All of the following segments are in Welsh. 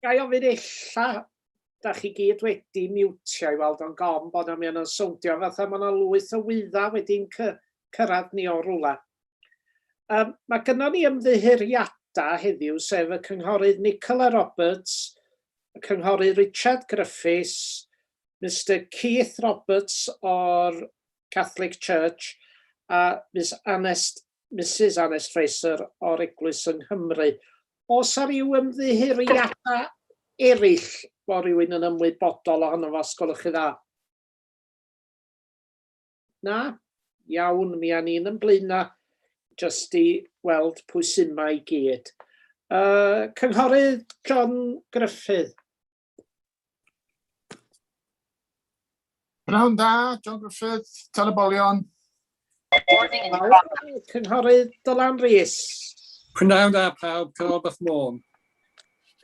Ga i ofyn illa, da chi gyd wedi miwtio i weld o'n gom bod yna, mae o'n swndio fatha mae yna lwyth o wyddau wedi'n cyrraedd ni o rwla. Um, mae gynnon ni ymddiheuriadau heddiw, sef y Cynghorydd Nicola Roberts, y Cynghorydd Richard Griffiths, Mr Keith Roberts o'r Catholic Church a Miss Anest, Mrs Anest Fraser o'r Eglwys yng Nghymru. Os ar ryw ymddiheuriadau eraill bod rhywun yn ymwybodol ohono fo, os gwelwch chi dda? Na? Iawn, mi a ni'n ymblaena jyst i weld pwy sy'n mae i gyd. Uh, Cynghorydd John Gruffydd. Pnawn da, John Griffith, Telebolion. Cynghorydd Dylan Rhys. Pnawn da pawb, Cynghorydd Beth Môn.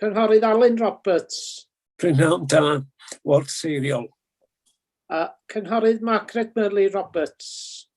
Cynghorydd Alun Roberts. Pnawn da, Ward Seiriol. Uh, Cynghorydd Margaret Murley Roberts.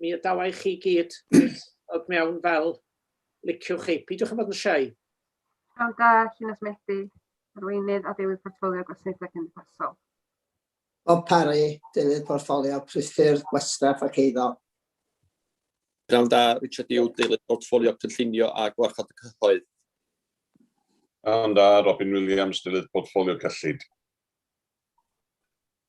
Mi adawa i chi gyd ddod mewn fel liciwch chi. Peidiwch â bod yn siai. Pnawn da, Llinos Medi, Arweinydd a Deilydd Portffolio Gwasanaethau Cymdeithasol. Bob Parry, Deilydd Portffolio Priffyrdd, Gwastraff ac Eiddo. Pnawn da, Richard Yw, Deilydd Portffolio Cynllunio a Gwarchod y Cyhoedd. Pnawn da, Robin Williams, Deilydd Portffolio Cyllid.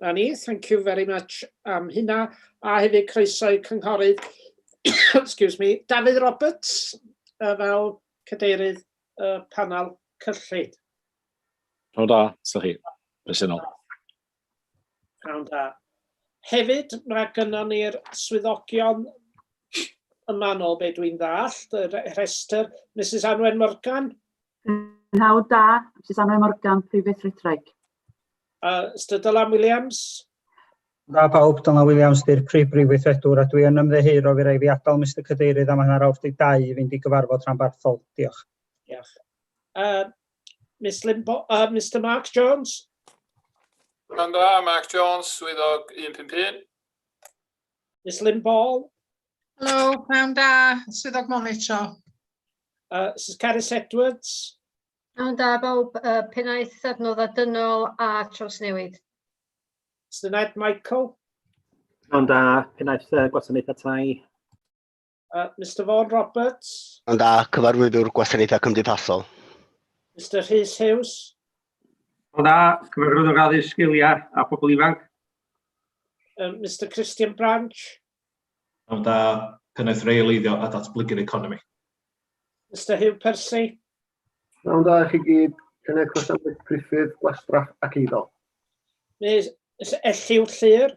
Na ni, thank you very much am hynna. A hefyd croeso i cynghorydd, excuse me, Dafydd Roberts uh, fel cadeirydd uh, panel cyllid. Rhawn da, sy'n chi, bresennol. Rhawn da. Hefyd, mae gynnon ni'r swyddogion y manol, be dwi'n ddallt, y rhestr, Mrs Anwen Morgan. Rhawn da, Mrs Anwen Morgan, Prifeithritraig. Uh, Mr Dylan Williams. Da pawb, Dylan Williams, dy'r prif brif weithredwr, a dwi yn ymddeheuro fi rai fi adael Mr Cadeirydd am hanner awr 12 i fynd i gyfarfod rhan barthol. Diolch. Diolch. Uh, Miss Limbo, uh, Mr Mark Jones. Pan da, Mark Jones, swyddog 151. Miss Lynn Ball. Helo, pnawn da, swyddog monitro. Uh, Mrs Carys Edwards. Pnawn da bawb, uh, pennaeth adnodda dynol a trawsnewid. Syniad Michael. Pnawn da, pennaeth uh, gwasanaethau tai. Uh, Mr Vaughan Roberts. Pnawn da, cyfarwyddwr gwasanaethau cymdeithasol. Mr Rhys Hughes. Pnawn da, cyfarwyddwr addysg sgiliau a phobl ifanc. Uh, Mr Christian Branch. Pnawn da, Pennaeth Reoleiddio a Datblygu'r Economi. Mister Hugh Percy. Pnawn da i chi gyd, Pennaeth Gwasanaeth Priffyrdd, Gwastraff ac Eiddo. Miss Elliw Llyr.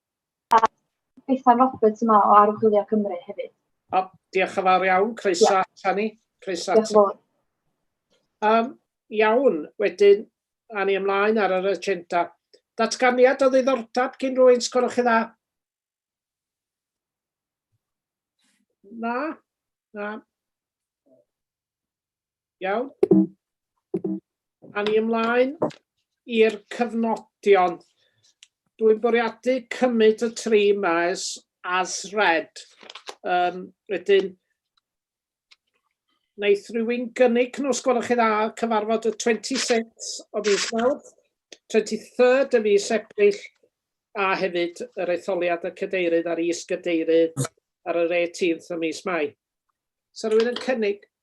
A Bethan Roberts yma o Archwilio Cymru hefyd. O, diolch yn fawr iawn, croeso yeah. ata ni. Croeso ata ni. Um, iawn, wedyn, a ni ymlaen ar yr agenda. Datganiad o ddiddordeb gyn rwy'n sgwrwch chi dda? Na? Na? Iawn. A ni ymlaen i'r cyfnodion. Dwi'n bwriadu cymryd y tri yma as, as red. Um, wedyn, wnaeth rhywun gynnig nhw, os gwelwch chi dda, cyfarfod y 26 o fis Mawrth, 23rd o fis Ebrill, a hefyd yr etholiad y cadeirydd a'r is-gadeirydd ar yr 18th o mis Mai. Sa rhywun yn cynnig,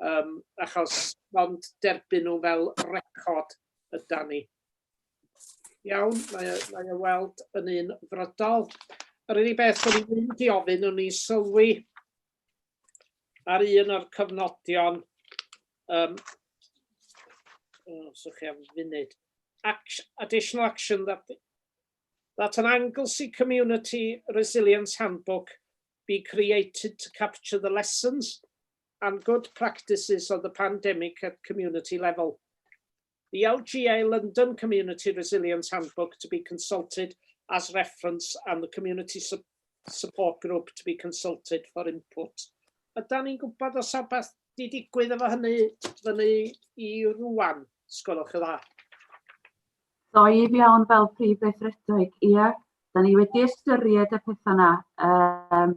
um, achos ond derbyn nhw fel record yda ni. Iawn, mae, e, mae e weld yn un frydol. Yr unig beth o'n i'n mynd i ofyn, o'n i'n sylwi ar un o'r cyfnodion, um, oh, so chi am funud, action, additional action that, that an Anglesey Community Resilience Handbook be created to capture the lessons and good practices of the pandemic at community level. The LGA London Community Resilience Handbook to be consulted as reference and the community support group to be consulted for input. Yda ni'n gwybod os yw beth di digwydd efo hynny fyny i rwan, sgolwch y dda? So i fi awn fel prif weithredig, ie, da ni wedi ystyried y pethau yna. Um,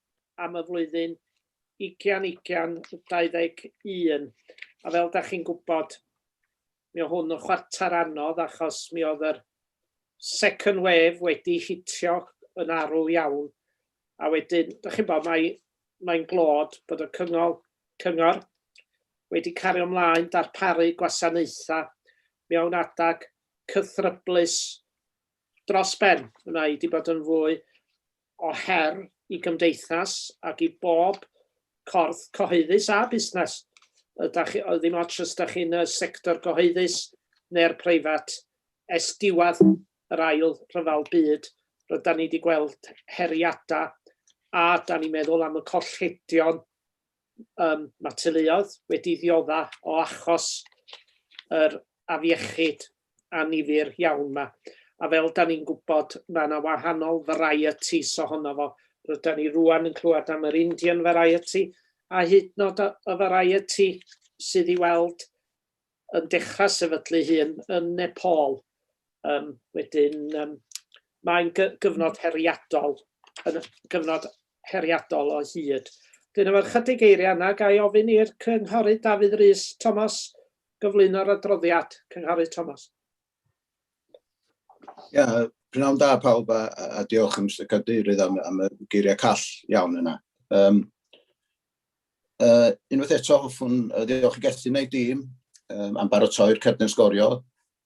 am y flwyddyn 2021. A fel da chi'n gwybod, mi o hwn yn chwarter anodd achos mi oedd yr second wave wedi hitio yn arw iawn. A wedyn, da chi'n bod, mae'n mae glod bod y cyngor, cyngor wedi cario ymlaen darparu gwasanaethau mewn adag cythryblus dros ben. Mae wedi bod yn fwy o her i gymdeithas ac i bob corff cyhoeddus a busnes. Ydach chi, ddim ots os ydych chi'n y sector gyhoeddus neu'r preifat, es diwedd yr ail rhyfel byd, rydan ni wedi gweld heriadau a da ni'n meddwl am y colledion Yym mae teuluoedd wedi diodda o achos yr afiechyd annifyr iawn yma. A fel da ni'n gwybod mae yna wahanol varieties ohono fo. Rydan ni rŵan yn clywed am yr Indian variety a hyd nod y variety sydd i weld yn dechrau sefydlu hun yn Nepal. Um, wedyn, um, mae'n gyfnod heriadol, yn gyfnod heriadol o hyd. Dyn efo'r chydig eiriau yna, ga i ofyn i'r cynghorydd Dafydd Rhys Thomas gyflwyno'r adroddiad. Cynghorydd Thomas. Ia, pnawn da pawb a, a diolch yn Mr Cadeirydd am, am y geiriau call iawn yna. Um, uh, unwaith eto hoffwn uh, ddiolch i Gethin a'i dîm um, am barotoi'r cerdyn sgorio.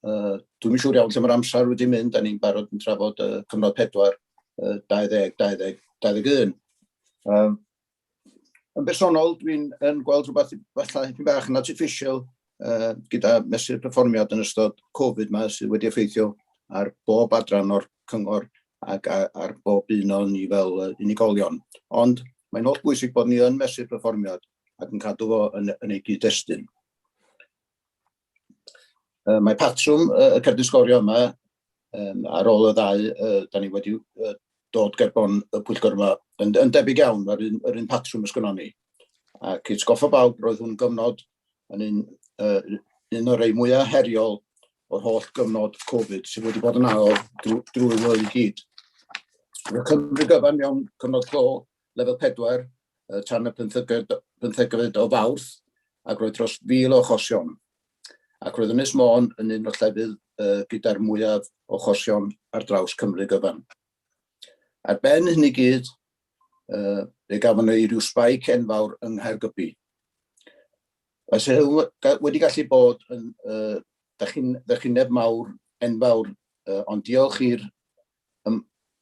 Uh, Dwi'n siŵr iawn lle mae'r amser wedi mynd, da ni'n barod yn trafod uh, cyfnod 4, uh, 20, 20, 21. Um, yn bersonol, dwi'n yn gweld rhywbeth fatha hyn bach yn artificial uh, gyda mesur perfformiad yn ystod Covid mae sydd wedi effeithio ar bob adran o'r cyngor ac ar bob un o'n ni fel unigolion. Ond mae'n holl bwysig bod ni yn mesur perfformiad ac yn cadw fo yn, yn ei gyd-destun. Uh, mae patrwm uh, y cerdyn sgorio yma um, ar ôl y ddau, uh, da ni wedi uh, dod gerbon y pwyllgor yma yn, yn debyg iawn, mae'r un, yr un patrwm ysgynnon ni. Ac it's goffa bawb, roedd hwn gyfnod yn un, uh, un o'r rei mwyaf heriol o'r holl gyfnod Covid sydd wedi bod yn ail drwy, drwy flwyddyn gyd. Mae Cymru gyfan mewn cyfnod clo lefel 4 tan y pymthegfed o Fawrth ac roedd dros 1,000 o achosion ac roedd Ynys Môn yn un o'r llefydd gyda'r mwyaf o achosion ar draws Cymru gyfan. Ar ben hyn i gyd, fe gafon ni ryw spike enfawr yng Nghaergybi. Os ydych wedi gallu bod yn ddychineb mawr, enfawr, ond diolch i'r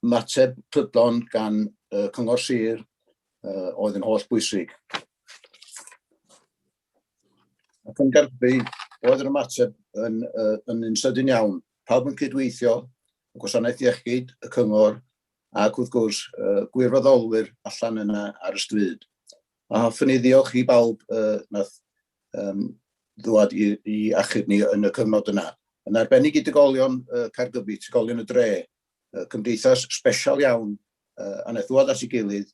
ymateb prydlon gan y Cyngor Sir uh, oedd yn holl bwysig. Ac yn garbu, oedd yr ymateb yn, uh, yn un sydyn iawn. Pawb yn cydweithio, y gwasanaeth iechyd, y cyngor, ac wrth gwrs uh, gwirfoddolwyr allan yna ar y stryd. A hoffwn i ddiolch i bawb uh, nath um, ddwad i, i achub ni yn y cyfnod yna. Yn arbennig i digolion uh, Caergybi, digolion y dre, uh, cymdeithas special iawn uh, a wnaeth ddwad at ei gilydd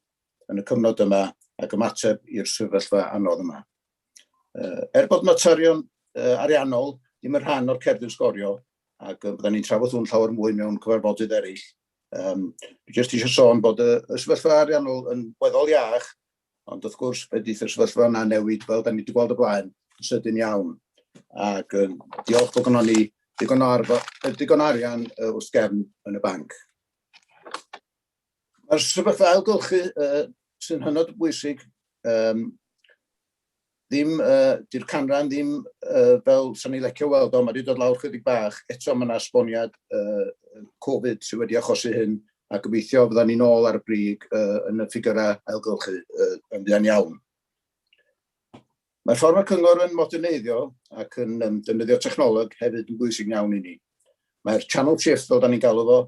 yn y cyfnod yma ac ymateb i'r sefyllfa anodd yma. Uh, er bod materion uh, ariannol ddim yn rhan o'r cerdyn sgorio, ac uh, byddwn ni'n trafod hwn llawer mwy mewn cyfarfodydd eraill, um, jyst eisiau sôn bod y, y sefyllfa ariannol yn weddol iach Ond wrth gwrs, fe ddydd y sefyllfa yna newid, fel da ni wedi gweld y blaen, yn sydyn iawn. Ac um, diolch bod gynnon ni digon o, arfa, digon o arian uh, wrth gefn yn y banc. Mae'r sefyllfa ailgylchu uh, sy'n hynod bwysig um, ddim, uh, di'r canran ddim uh, fel sy'n ei lecio weld o, mae wedi dod lawr chydig bach, eto mae yna esboniad uh, Covid sydd wedi achosi hyn, a gobeithio fydda ni'n ôl ar y brig uh, yn y ffigurau ailgylchu uh, yn fuan iawn. Mae ffordd mae cyngor yn moderneiddio ac yn um, defnyddio technoleg hefyd yn bwysig iawn i ni. Mae'r channel shift, fel da ni'n galw fo,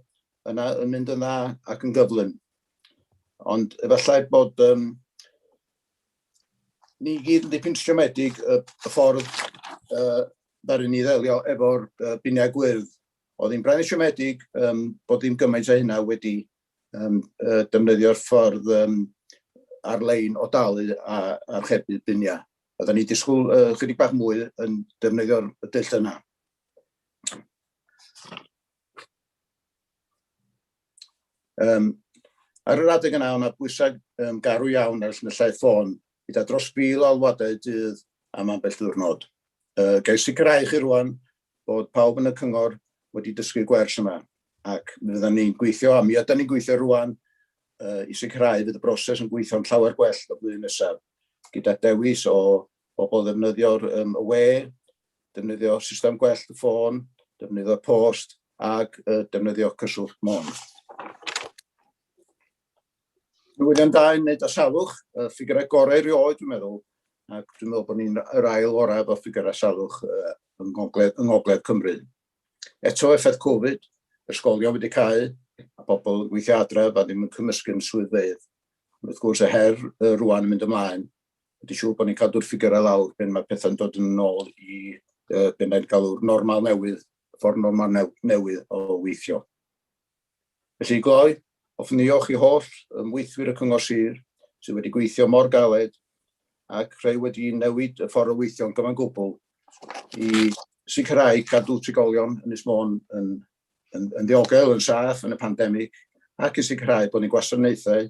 yna yn mynd yn dda ac yn gyflym. Ond efallai bod um, ni gyd yn dipyn siomedig y, y ffordd uh, ddaru ni ddelio efo'r uh, biniau gwyrdd. Oedd hi'n braidd siomedig um, bod ddim gymaint o hynna wedi um, uh, defnyddio'r ffordd um, ar-lein o dalu a archebu biniau. Oedden ni disgwyl uh, chydig bach mwy yn defnyddio'r dull yna. Um, ar yr adeg yna, yna bwysau um, garw iawn ar llinellau ffôn, gyda dros fil o alwadau dydd am ambell ddiwrnod. Uh, Gael sicrhau chi rwan bod pawb yn y cyngor wedi dysgu gwers yma, ac mi fydda ni'n gweithio, a mi yda ni'n gweithio rwan, uh, i sicrhau fydd y broses yn gweithio'n llawer gwell y blwyddyn nesaf, gyda dewis o Bobl ddefnyddio'r um, y we, defnyddio system gwell y ffôn, defnyddio post ac uh, defnyddio cyswllt mon. Newyddion da yn wneud â salwch, y ffigurau gorau rioed dwi'n meddwl, ac dwi'n meddwl bod ni'n yr ail orau efo ffigurau salwch uh, yng, ngogledd, yng ngogledd Cymru. Eto effaith Covid, ysgolion wedi cael, a bobl yn gweithio adref a ddim yn cymysgu'n swyddfeydd. Wrth gwrs, y her uh, rwan yn mynd ymlaen wedi siŵr bod ni'n cadw'r ffigurau lawr pan mae pethau'n dod yn ôl i uh, beth mae'n galw'r normal newydd, ffordd normal new, newydd o weithio. Felly gloi, hoffwn ddiolch i holl ymweithwyr y Cyngor Sir sydd wedi gweithio mor galed ac rhai wedi newid y ffordd o weithio'n gyfan gwbl i sicrhau cadw trigolion yn Ysmôn yn, yn, yn ddiogel, yn saff yn y pandemig ac i sicrhau bod ni'n gwasanaethau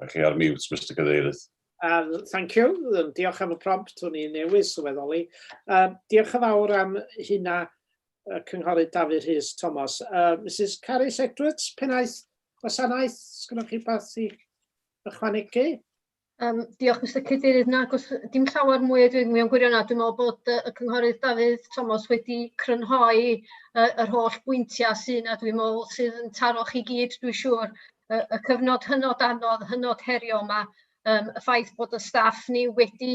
Mae chi ar mute, Mister Cadeirydd. Um, thank you. Um, diolch am y prompt, hwn i'n newydd sylweddoli. Uh, diolch yn fawr am hynna, uh, Cynghorydd Dafydd Rhys Thomas. Uh, Mrs Carys Edwards, pennaeth gwasanaeth, sgynnoch chi beth i ychwanegu? Yym diolch Mister Cadeirydd. Nag oes dim llawer mwy o dwi'n mewn gwirionedd. Dwi'n meddwl bod yy y cynghorydd Dafydd Thomas wedi crynhoi yy yr holl bwyntiau sy 'na dwi'n meddwl sydd yn taro chi gyd dwi'n siŵr yy y cyfnod hynod anodd, hynod heriol 'ma, yym y ffaith bod y staff ni wedi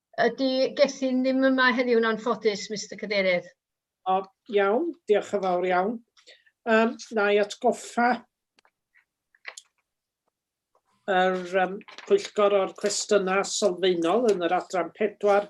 Ydy Gethin ddim yma heddiw'n anffodus, Mister Cadeirydd. O, iawn, diolch yn fawr iawn. Um, na i atgoffa yr um, pwyllgor o'r cwestiynau sylfaenol yn yr adran pedwar.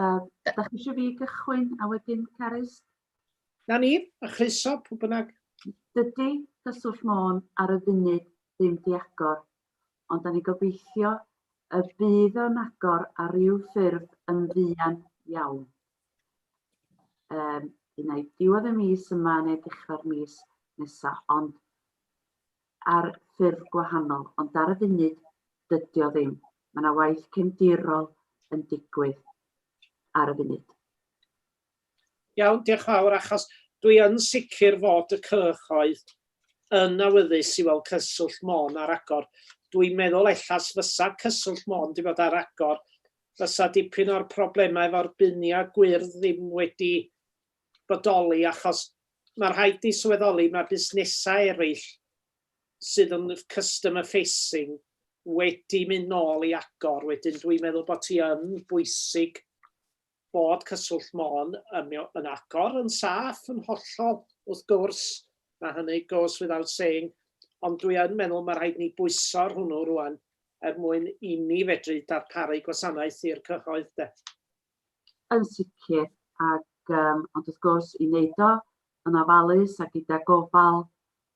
Uh, da chi eisiau fi gychwyn a wedyn Carys? Na ni, a chryso pwy bynnag. Dydy cyswllt Môn ar y funud ddim diagor, ond da ni gobeithio y bydd o'n agor ar ryw ffurf yn fuan iawn. Um, Unai diwedd y mis yma neu dechrau'r mis nesaf, ond ar ffyrdd gwahanol ond ar y funud dydio ddim, mae 'na waith cefndirol yn digwydd ar y funud. Iawn, diolch fawr, achos dwi yn sicr fod y cyhoedd yn awyddus i weld Cyswllt Môn ar agor. Dwi'n meddwl ella fysa Cyswllt Môn 'di bod ar agor fysa dipyn o'r problemau efo'r biniau gwyrdd ddim wedi bodoli achos ma' rhaid ti sylweddoli ma' busnesa' ereill sydd yn customer facing wedi mynd nôl i agor wedyn dwi'n meddwl bo' ti yn bwysig bod Cyswllt Môn yn mio- yn agor yn saff yn hollol wrth gwrs ma' hynny goes without saying ond dwi yn meddwl ma' rhaid ni bwyso ar hwnnw rŵan er mwyn i ni fedru darparu gwasanaeth i'r cyhoedd 'de. Yn sicr, ac yym ond wrth gwrs i wneud o yn ofalus a gyda gofal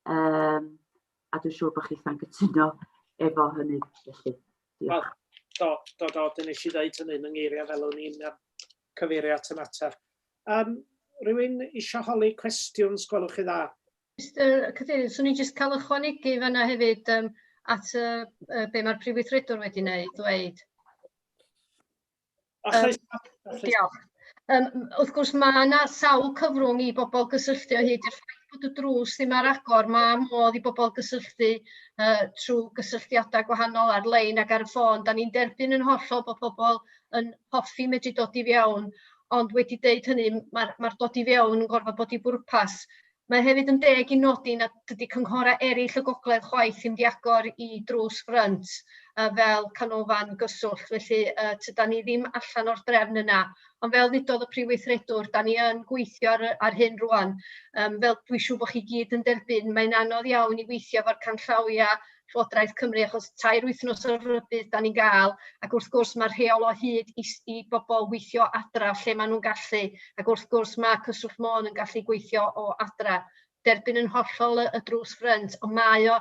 yym a dwi'n siŵr bod chitha'n cytuno efo hynny felly. Diolch. Do, do, do, dyn nes i ddeud hynny yn ngeiriau fel o'n i'n um, cyfeirio at y mater. Um, rhywun eisiau holi cwestiwn, sgwelwch chi dda? Mr Cadeirydd, swn i'n jyst cael ychwanegu fanna hefyd um, at uh, uh, be mae'r Prif Weithredwr wedi wneud, ddweud. Achos... Um, diolch. Um, wrth gwrs mae yna sawl cyfrwng i bobl gysylltu o hyd i'r ffaith bod y drws ddim ar agor. Mae modd i bobl gysylltu uh, trwy gysylltiadau gwahanol ar-lein ac ar y ffôn. Da ni'n derbyn yn hollol bod pobl yn hoffi medru dod i fiewn, ond wedi dweud hynny, mae'r mae dod i fiewn yn gorfod bod i bwrpas. Mae hefyd yn deg i nodi nad ydy cynghorau eraill y gogledd chwaith yn mynd i agor i drws ffrynt yy fel canolfan gyswllt, felly yy tydan ni ddim allan o'r drefn yna. Ond fel ddudodd y Prif Weithredwr, da ni yn gweithio ar, ar hyn rwan, um, fel dwi'n siŵr bod chi gyd yn derbyn, mae'n anodd iawn i weithio efo'r canllawiau Llywodraeth Cymru achos tair wythnos o rybudd dan ni'n gael ac wrth gwrs mae'r rheol o hyd i, i bobl weithio adra lle maen nhw'n gallu ac wrth gwrs mae Cyswllt Môn yn gallu gweithio o adra. Derbyn yn hollol y, y drws ffrynt ond mae o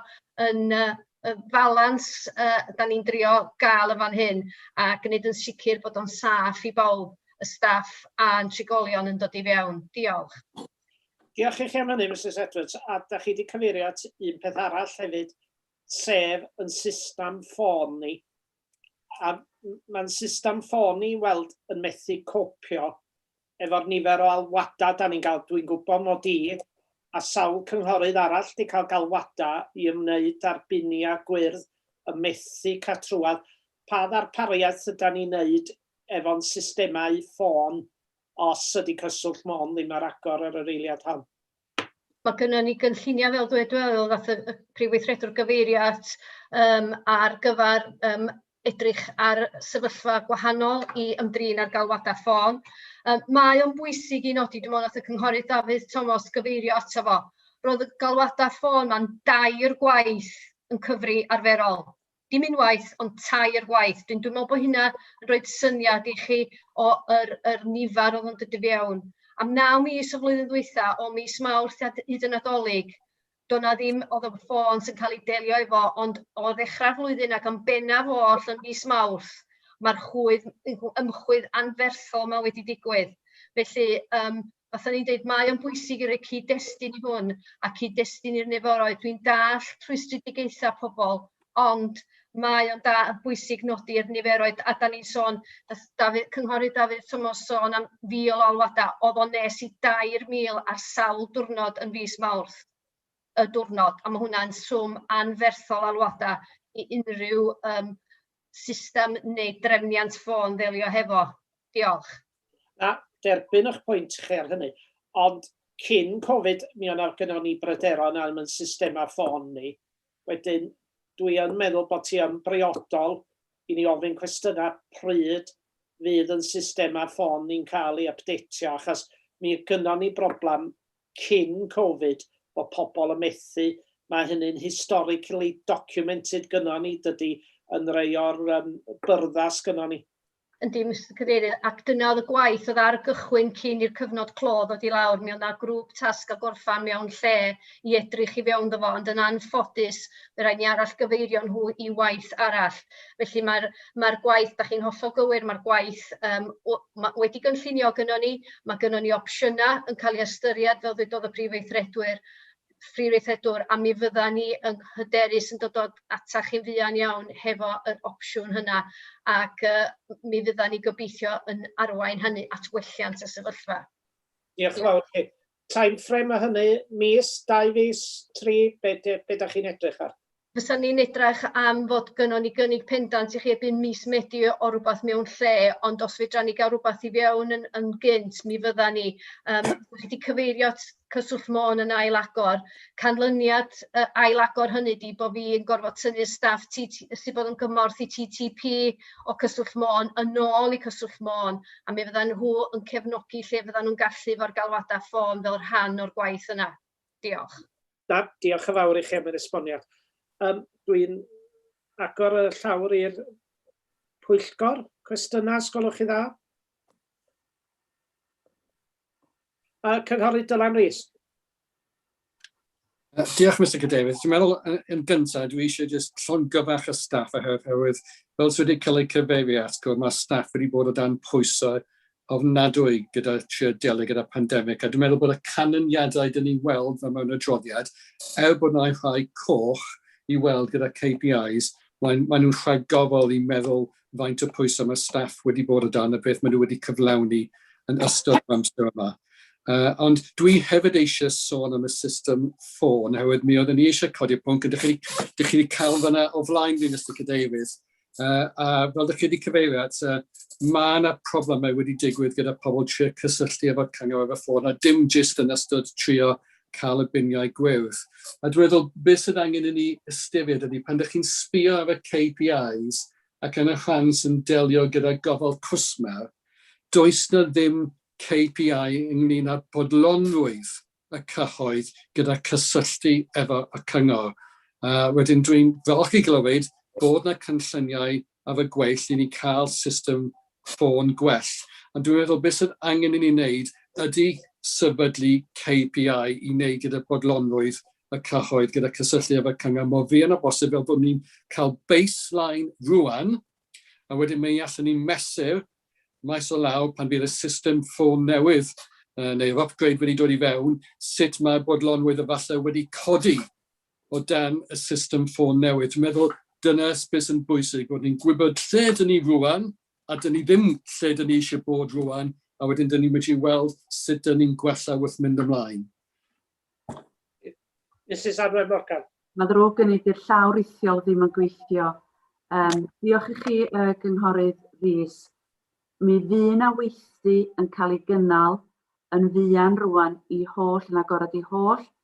yn uh, y falans uh, da ni'n drio gael yn fan hyn a gwneud yn sicr bod o'n saff i bawb, y staff a'n trigolion yn dod i fewn. Diolch. Diolch i chi am hynny, Mrs Edwards. A da chi wedi cyfeirio at un peth arall hefyd, sef yn system ffôn ni. A mae'n system ffôn ni weld yn methu copio efo'r nifer o alwadau da ni'n cael. Dwi'n gwybod mod i a sawl cynghorydd arall wedi cael galwadau i ymwneud â'r biniau gwyrdd y methu catrwad. Pa ddarpariaeth yda ni'n wneud efo'n systemau ffôn os ydy cyswllt Môn ddim ar agor ar yr eiliad hon. Mae gennym ni gynlluniau fel dwedwelodd ddaeth y Prif Weithredwr gyfeirio at um, ar gyfer um, edrych ar sefyllfa gwahanol i ymdrin ar galwadau ffôn. Um, mae o'n bwysig i nodi, dwi'n meddwl, at y Cynghorydd Dafydd Thomas gyfeirio ato fo. Roedd y galwadau ffôn ma'n dair gwaith yn cyfri arferol dim unwaith ond tair gwaith. Dwi'n dwi'n meddwl bod hynna yn rhoi syniad i chi o yr, yr nifer oedd yn dod i fewn. Am naw mis y flwyddyn ddwytha, o mis Mawrth hyd y Nadolig, doedd na ddim, oedd y ffôn sy'n cael ei delio efo, ond o ddechrau'r flwyddyn ac yn bennaf oll yn mis Mawrth, mae'r chwydd ymchwydd anferthol yma wedi digwydd. Felly, um, Faswn i'n deud mae o'n bwysig i roi cyd-destun i hwn a cyd-destun i'r neforoedd. Dwi'n dall rhwystredigaethau pobl, ond mae o'n da yn bwysig nodi'r niferoedd a da ni'n sôn, nath Dafydd, Cynghorydd Dafydd Tomos sôn am fil o alwadau, oedd o'n nes i 2,000 ar sawl diwrnod yn fis Mawrth y diwrnod, a mae hwnna'n swm anferthol alwadau i unrhyw um, system neu drefniant ffôn ddelio hefo? Diolch. Na, derbyn eich pwynt chi ar hynny. Ond cyn Covid, mi o'n gynnon ni bryderon am yn systemau ffôn ni. Wedyn, dwi yn meddwl bod ti yn briodol i ni ofyn cwestiynau pryd fydd yn systemau ffôn ni'n cael ei ypdeitio, achos mi gynnon ni broblem cyn covid bod pobl yn methu, mae hynny'n historically documented gynnon ni, dydy yn rei o'r um, byrddau sgynnon ni. Yndi, Mr Cadeirydd, ac dyna oedd y gwaith oedd ar y gychwyn cyn i'r cyfnod clo ddod i lawr. Mi oedd yna grŵp tasg a gorffan mewn lle i edrych i fewn ddo fo, ond yn anffodus, fe rhaid ni arall gyfeirio nhw i waith arall. Felly mae'r mae'r gwaith, dach chi'n hollol gywir, mae'r gwaith yym w- ma- wedi gynllunio gynnon ni, ma' gynnon ni opsiynau yn cael eu ystyried fel ddedodd y Prif Weithredwyr, Prif Weithredwr, a mi fyddan ni yn hyderus yn dod o ata chi'n fuan iawn hefo yr opsiwn hynna ac yy m- mi fyddan ni gobeithio yn arwain hynny at welliant y sefyllfa. Diolch yn fawr chi. Time frame o hynny, mis, dau fis, tri, be be da chi'n edrych ar? Fysan ni'n edrych am fod gynnon ni gynnig pendant i chi erbyn mis Medi o rwbath mewn lle, ond os fedran ni gael rwbath i fewn yn, yn gynt, mi fyddan ni. Um, chi wedi cyfeirio at cyswllt Môn yn ail agor. Canlyniad uh, ail agor hynny di bod fi yn gorfod tynnu staff sydd bod yn gymorth i TTP o cyswllt Môn yn ôl i cyswllt Môn a mi fyddan nhw yn cefnogi lle fyddan nhw'n gallu efo'r galwadau ffôn fel rhan o'r gwaith yna. Diolch. Da, diolch yn fawr i chi am yr esboniad. Um, Dwi'n agor y llawr i'r pwyllgor. Cwestiynau, sgolwch chi dda? Uh, Cynghorydd Dylan Rees. Uh, diolch, Mr Cadeirydd. Dwi'n meddwl, uh, yn gyntaf, dwi eisiau jyst llon gyfach y staff oherwydd, fel sydd wedi cael ei cyfeirio at, gwrdd, mae staff wedi bod o dan pwysau ofnadwy gyda trio delio gyda pandemig. A dwi'n meddwl bod y canlyniadau dyn ni'n weld fe mewn adroddiad, er bod yna rhai coch i weld gyda KPIs, maen, maen nhw'n rhagofol i meddwl faint o pwysau mae staff wedi bod o dan a beth maen nhw wedi cyflawni yn ystod yr amser yma. Uh, ond dwi hefyd eisiau sôn am y system ffôn, hefyd mi oedden ni eisiau codi'r pwnc, ydych chi, ydych chi wedi cael fyna o flaen fi, Mr Cadeirydd, uh, a fel ydych chi wedi cyfeirio at, uh, mae yna problemau wedi digwydd gyda pobl trio cysylltu efo'r cyngor efo ffôn, a dim jyst yn ystod trio cael y biniau gwyrdd. A dwi'n meddwl, beth sydd angen i ni ystyried ydy pan ydych chi'n sbio ar y KPIs ac yn y rhan sy'n delio gyda gofal cwsmer, does na ddim KPI ynglyn â bodlonrwydd y cyhoedd gyda cysylltu efo y cyngor. Uh, wedyn dwi'n falch i glywed bod na cynlluniau ar y gweill i ni cael system ffôn gwell. Ond dwi'n meddwl beth sydd angen i ni wneud ydy sefydlu KPI i wneud gyda bodlonrwydd y cyhoedd, gyda cysylltu efo'r cyngor mor fuan o bosib fel bod ni'n cael baseline rwan, a wedyn mae allwn ni mesur maes o law pan bydd y system ffôn newydd uh, neu'r upgrade wedi dod i fewn, sut mae bodlonrwydd efallai wedi codi o dan y system ffôn newydd. Dwi'n meddwl dyna beth sy'n bwysig, bod ni'n gwybod lle dyn ni rŵan, a dyn ni ddim lle dyn ni eisiau bod rŵan, a wedyn dyn ni'n medru weld sut dyn ni'n gwella wrth mynd ymlaen. Mrs Anwen Morgan. Mae ddrwg gen i, 'di'r llaw rithiol ddim yn gweithio. Um, diolch i chi, uh, Gynghorydd Rhys. Mi fu na weithdy yn cael ei gynnal yn fuan rwan i holl yn agorad i holl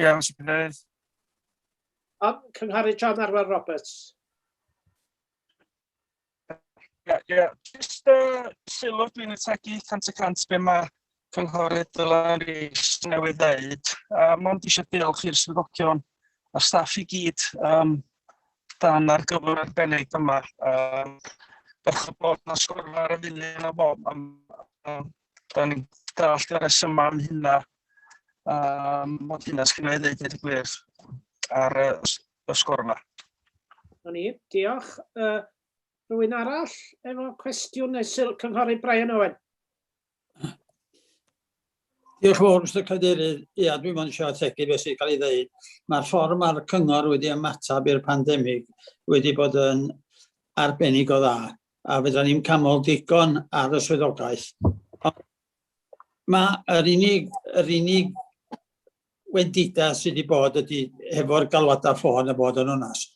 Iawn, Mr Cadeirydd. Um, Cynghari John Arwel Roberts. Ie, ie. Just uh, sylw dwi'n ategu 100% be mae cynghorydd Dylan Rees newydd ddeud. Uh, Mond eisiau diolch i'r swyddogion a staff i gyd um, dan ar gyfer arbennig yma. Um, Bech o bod na sgwrfa ar y funud yna fo am, am da ni'n dallt y rhesymau am hynna, um, ond hynna sgynna i ddeud i'r gwir ar y, y sgwr yma. Na ni, diolch. Uh, rwy'n arall efo cwestiwn neu syl cynghorydd Brian Owen. Diolch fawr, Mr Cadeirydd. Ia, dwi'n mwyn eisiau ategu beth sy'n cael ei ddeud. Mae'r ffordd mae'r cyngor wedi ymateb i'r pandemig wedi bod yn arbennig o dda. a fyddan ni'n camol digon ar y swyddogaeth. Mae yr unig, yr unig wendida sydd wedi bod ydy hefo'r galwadau ffôn a bod yn onas.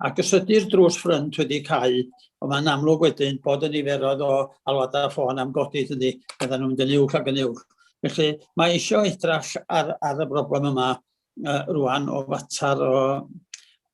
Ac os ydy'r drws ffrynt wedi cau, ond mae'n amlwg wedyn bod y niferoedd o alwadau ffôn am godi ydy, byddan nhw'n mynd yn uwch ac yn uwch. Felly mae eisiau edrach ar, ar y broblem yma uh, rwan o fater o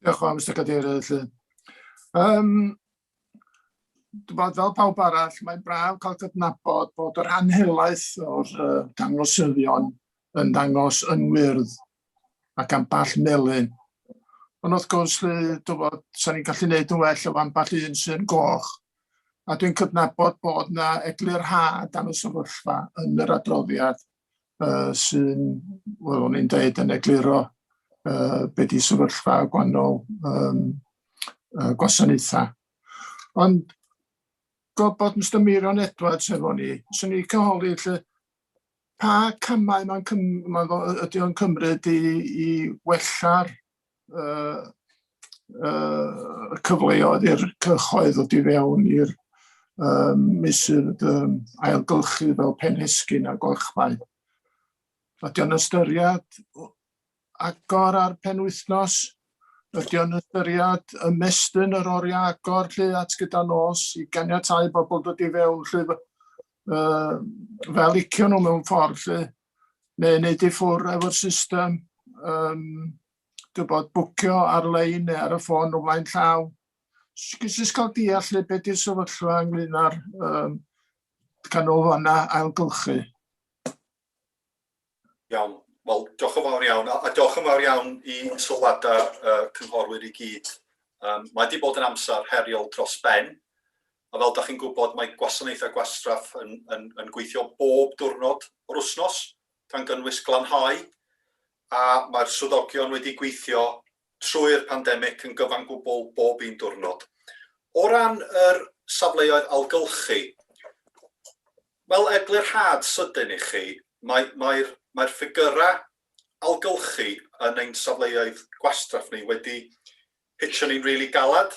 Diolch yn fawr, Mister Cadeirydd. Yym, fel pawb arall, mae'n braf cael cydnabod bod yr rhan helaeth o'r uh, dangosyddion yn dangos yn wyrdd ac amball melyn. Ond wrth gwrs, dyfod, sa'n ni'n gallu gwneud yn well o amball un sy'n goch. A dwi'n cydnabod bod yna eglurhad am y sefyllfa yn yr adroddiad. uh, sy'n, wel, o'n i'n dweud yn egluro uh, be di sefyllfa gwahanol um, uh, gwasanaethau. Ond gobod Mr Mirion Edwards efo ni, sy'n ni cyholi lle pa camau mae'n cym, ma ydy o'n cymryd i, i wella'r uh, uh, cyfleoedd i'r cyhoedd ddod i fewn i'r um, misydd um, ailgylchu fel penhesgyn a golchmai. Ydy o'n ystyried agor ar penwythnos? Ydy o'n ystyried ymestyn yr oriau agor lle at gyda nos i ganiatau bobl dod i fewn lle uh, fel icio nhw mewn ffordd lle? neu wneud i ffwrdd efo'r system, um, dybod, bwcio ar-lein neu ar y ffôn o flaen llaw. Jyst cael deall lle beth yw'r sefyllfa ynglyn â'r um, canolfannau ailgylchu. Iawn. Wel, diolch yn fawr iawn, a diolch yn fawr iawn i sylwadau uh, cynghorwyr i gyd. Um, mae wedi bod yn amser heriol dros ben, A fel dach chi'n gwybod, mae gwasanaethau gwastraff yn, yn, yn gweithio bob diwrnod o'r wythnos, gan gynnwys glanhau, a mae'r swyddogion wedi gweithio trwy'r pandemig yn gyfan gwbl bob un diwrnod. O ran yr safleoedd ailgylchu, fel eglurhad sydyn i chi, mae, mae'r, mae'r ffigyrau ailgylchu yn ein safleoedd gwastraff ni wedi hitio ni'n rili really galed.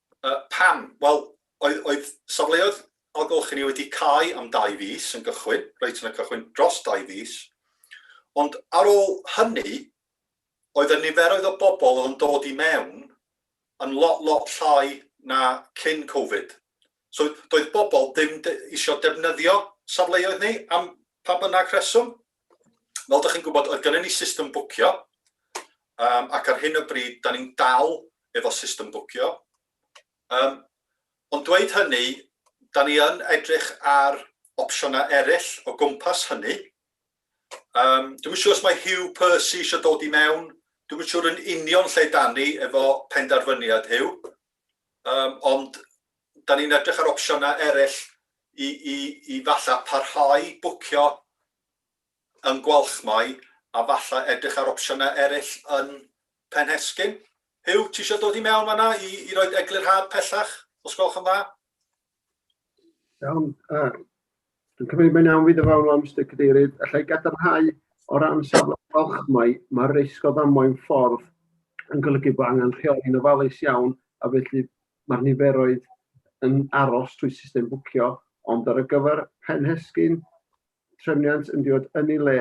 Yy, pam? Wel, oedd, oedd safleoedd ailgylchu ni wedi cau am dau fis yn gychwyn, reit yn y cychwyn, dros dau fis, ond ar ôl hynny, oedd y niferoedd o bobl oedd yn dod i mewn yn lot, lot llai na cyn Covid. So, doedd bobl ddim eisiau defnyddio safleoedd ni am Pa bynnag rheswm, fel dych chi'n gwybod, oedd gennym ni system bwcio, um, ac ar hyn o bryd, da ni'n dal efo system bwcio. Um, ond dweud hynny, da ni yn edrych ar opsiynau eraill o gwmpas hynny. Um, dwi'n siŵr os mae Hugh Percy eisiau dod i mewn, dwi'n siŵr yn union lle da ni efo penderfyniad Hugh. Yym ond 'dan ni'n edrych ar opsiyna eryll i i i falla parhau bwcio yn Gwalchmai a falla edrych ar opsiyna eryll yn Penhescyn. Huw, ti isio dod i mewn fan'na i i roid eglurhad pellach, os gwelwch yn dda? Iawn, uh, dwi'n cymryd mae'n iawn fi ddyfawn am Mr Cadeirydd, allai gadarnhau o ran safle falchmai, mae'r risg o ddamwain ffordd yn golygu bod angen rheoli'n ofalus iawn a felly mae'r niferoedd yn aros trwy system bwcio, ond ar y gyfer pen hesgyn, trefniant yn diod yn ei le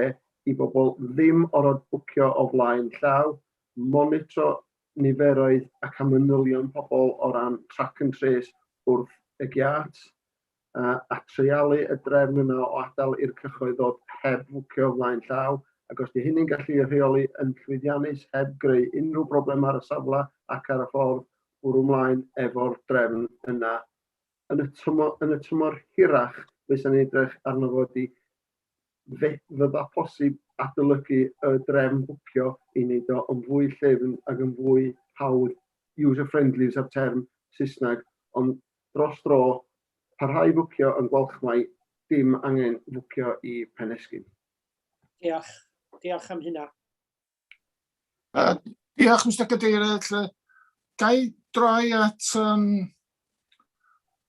i bobl ddim orfod bwcio o flaen llaw, monitro niferoedd ac am manylion pobl o ran track and trace wrth y giât, a, a treialu y drefn yna o adael i'r cyhoedd ddod heb fwcio o flaen llaw, ac os di hynny'n gallu ei rheoli yn llwyddiannus heb greu unrhyw broblemau ar y safle ac ar y ffordd, bwrw mlaen efo'r drefn yna. Yn y tymor, yn y tymor hirach, be' 'san ni'n edrych arno fo ydi Fe fydda posib adolygu y drefn bwcio i wneud o yn fwy llyfn ac yn fwy hawdd, user friendly fysa'r term Saesneg, ond dros dro, parhau i fwcio yn Gwalchmai, dim angen fwcio i Penesgyn. Diolch. Diolch am hynna. Uh, diolch, Mr Cadeirydd. Lle, ga i droi at um,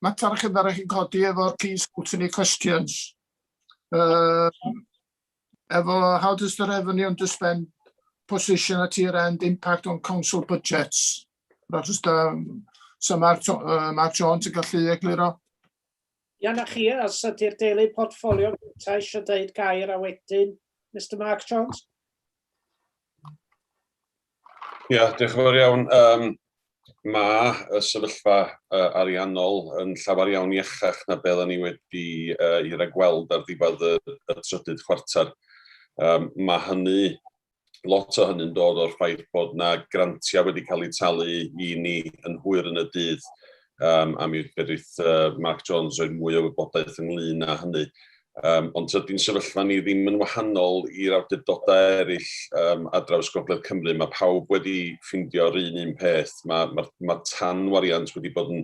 mater chi ddara chi'n codi efo'r key scrutiny questions. Uh, efo how does the revenue and the spend position at year end impact on council budgets? Rhaid ysda, so mae'r uh, ma Jones yn gallu egluro. Ia 'na chi, a os ydi'r deulu portffolio gynta isio deud gair a wedyn Mister Mark Jones. Ia, diolch yn fawr iawn. Um, mae y sefyllfa uh, ariannol yn llawer iawn iachach na beth ni wedi uh, i ragweld ar ddiwedd y, y trydydd chwarter. Um, mae hynny lot o hynny'n dod o'r ffaith bod yna grantiau wedi cael eu talu i ni yn hwyr yn y dydd, um, a mi fedrith uh, Mark Jones roi mwy o wybodaeth ynglyn â hynny. Um, ond tydi'n sefyllfa ni ddim yn wahanol i'r awdurdodau eraill um, a draws Gogledd Cymru. Mae pawb wedi ffindio'r un un peth. Mae'r ma, ma, ma tan wariant wedi bod yn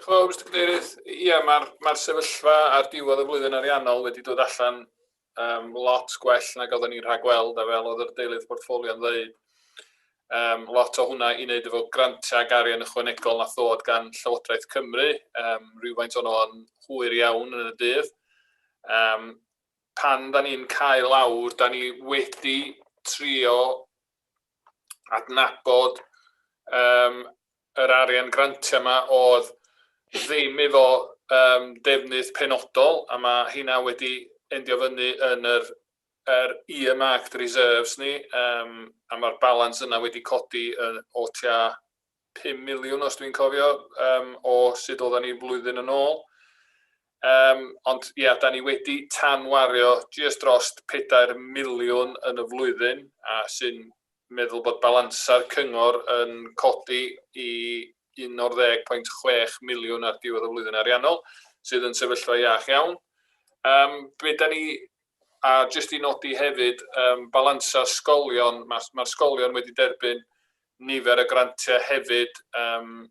Diolch yn fawr, Mister Cadeirydd. Ia, mae'r ma sefyllfa ar diwedd y flwyddyn ariannol wedi dod allan um, lot gwell nag oedden ni'n rhagweld, a fel oedd yr deilydd portffolio'n ddeud, um, lot o hwnna i wneud efo grantiau ac arian ychwanegol na thod gan Llywodraeth Cymru, um, rhywfaint o'n o'n hwyr iawn yn y dydd. Um, pan da ni'n cael awr, da ni wedi trio adnabod um, yr arian grantiau 'ma oedd ddim efo um, defnydd penodol, a mae hynna wedi endio fyny yn yr, yr earmarked reserves ni, um, a mae'r balans yna wedi codi yn, o tua 5 miliwn, os dwi'n cofio, um, o sut oedden ni flwyddyn yn ôl. Um, ond ia, yeah, da ni wedi tanwario just dros 4 miliwn yn y flwyddyn, a sy'n meddwl bod balansau'r cyngor yn codi i un o'r ddeg pwynt chwech miliwn ar diwedd y flwyddyn ariannol, sydd yn sefyllfa iach iawn. Um, be da ni, a jyst i nodi hefyd, um, balansau sgolion, mae'r ma sgolion wedi derbyn nifer y grantiau hefyd um,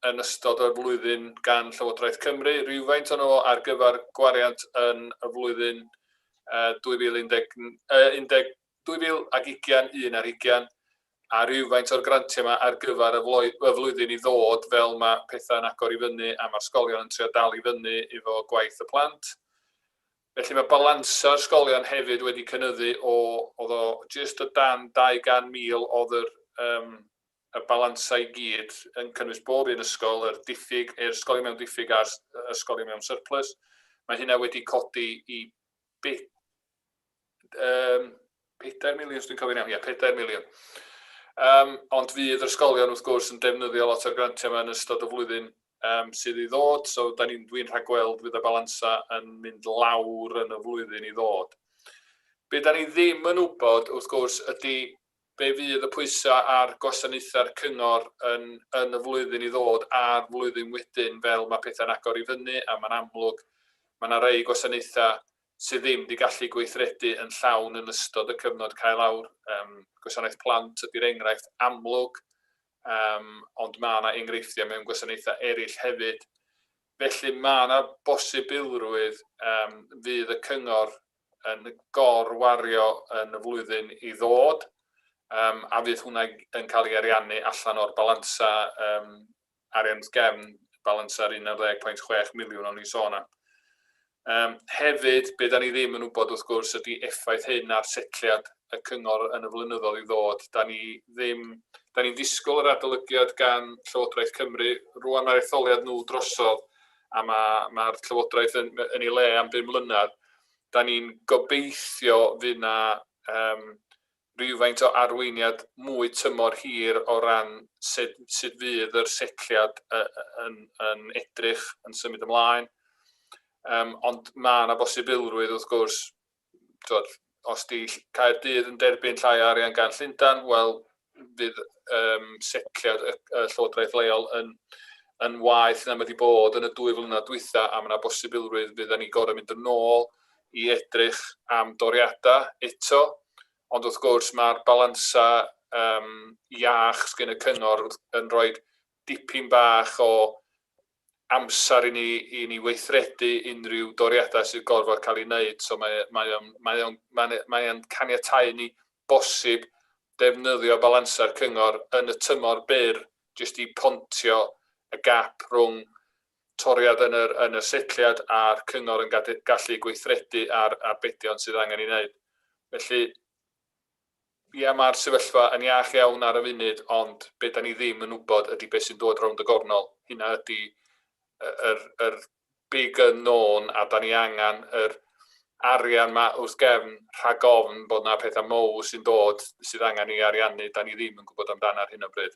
yn ystod y flwyddyn gan Llywodraeth Cymru, rhywfaint o'n nhw ar gyfer gwariant yn y flwyddyn uh, 2019, uh, 2021 ar hugain, a rywfaint o'r grantiau yma ar gyfer y flwyddyn i ddod fel mae pethau'n agor i fyny a mae'r sgolion yn trio dal i fyny efo gwaith y plant. Felly mae balansa'r sgolion hefyd wedi cynyddu o, oedd o jyst o dan 200,000 oedd yr, um, y balansau i gyd yn cynnwys bob un ysgol, yr diffyg, yr ysgolion mewn diffyg a'r ysgolion mewn surplus. Mae hynna wedi codi i bit Um, 4 miliwn, dwi'n cofio'n iawn, ie, 4 miliwn. Um, ond fydd yr ysgolion, wrth gwrs, yn defnyddio lot o'r grantiau yma yn ystod y flwyddyn um, sydd i ddod, so da ni'n dwi'n rhagweld fydd y balansa yn mynd lawr yn y flwyddyn i ddod. Be da ni ddim yn wybod, wrth gwrs, ydy be fydd y pwysau ar gwasanaethau'r cyngor yn, yn y flwyddyn i ddod a'r flwyddyn wedyn fel mae pethau'n agor i fyny a mae'n amlwg mae yna rei gwasanaethau sydd ddim wedi gallu gweithredu yn llawn yn ystod y cyfnod cael awr. Um, gwasanaeth plant ydy'r enghraifft amlwg, um, ond mae yna enghreifftiau mewn gwasanaethau eraill hefyd. Felly mae yna bosibilrwydd um, fydd y cyngor yn gorwario yn y flwyddyn i ddod, um, a fydd hwnna yn cael ei ariannu allan o'r balansa um, arian gefn y balans ar 11.6 miliwn o'n i'n sôn am. Um, hefyd, be da ni ddim yn wybod wrth gwrs ydy effaith hyn ar setliad y cyngor yn y flynyddoedd i ddod. Da ni ddim, da ni'n disgwyl yr adolygiad gan Llywodraeth Cymru. Rwan mae'r etholiad nhw drosodd a mae'r ma, ma Llywodraeth yn, yn ei le am bum mlynedd. Da ni'n gobeithio fydd na um, rywfaint o arweiniad mwy tymor hir o ran sut sut fydd yr setliad yn yn edrych yn symud ymlaen. Yym ond mae yna bosibilrwydd wrth gwrs t'wod os 'di Caerdydd yn derbyn llai o arian gan Llundan, wel fydd um, setliad y, y llywodraeth leol yn, yn waeth na mae wedi bod yn y dwy flynedd dwytha, a mae yna bosibilrwydd fydden ni gorau mynd yn ôl i edrych am doriadau eto, ond wrth gwrs mae'r balansau yym iach sgyn y cyngor yn rhoi dipyn bach o amser i ni i ni weithredu unrhyw doriadau sydd gorfod cael ei wneud, so mae mae o'n mae o'n mae'n mae o'n caniatau i ni bosib defnyddio balansau'r cyngor yn y tymor byr jyst i pontio y gap rhwng toriad yn yr yn y setliad a'r cyngor yn gadu- gallu gweithredu ar arbedion sydd angen ei wneud. Felly, ia, mae'r sefyllfa yn iach iawn ar y funud, ond be da ni ddim yn wybod ydy beth sy'n dod rownd y gornol. Hynna ydy yr, yr big unknown, a da ni angen yr arian ma wrth gefn rhag ofn bod na pethau mowr sy'n dod sydd angen ei ariannu, da ni ddim yn gwybod amdano ar hyn o bryd.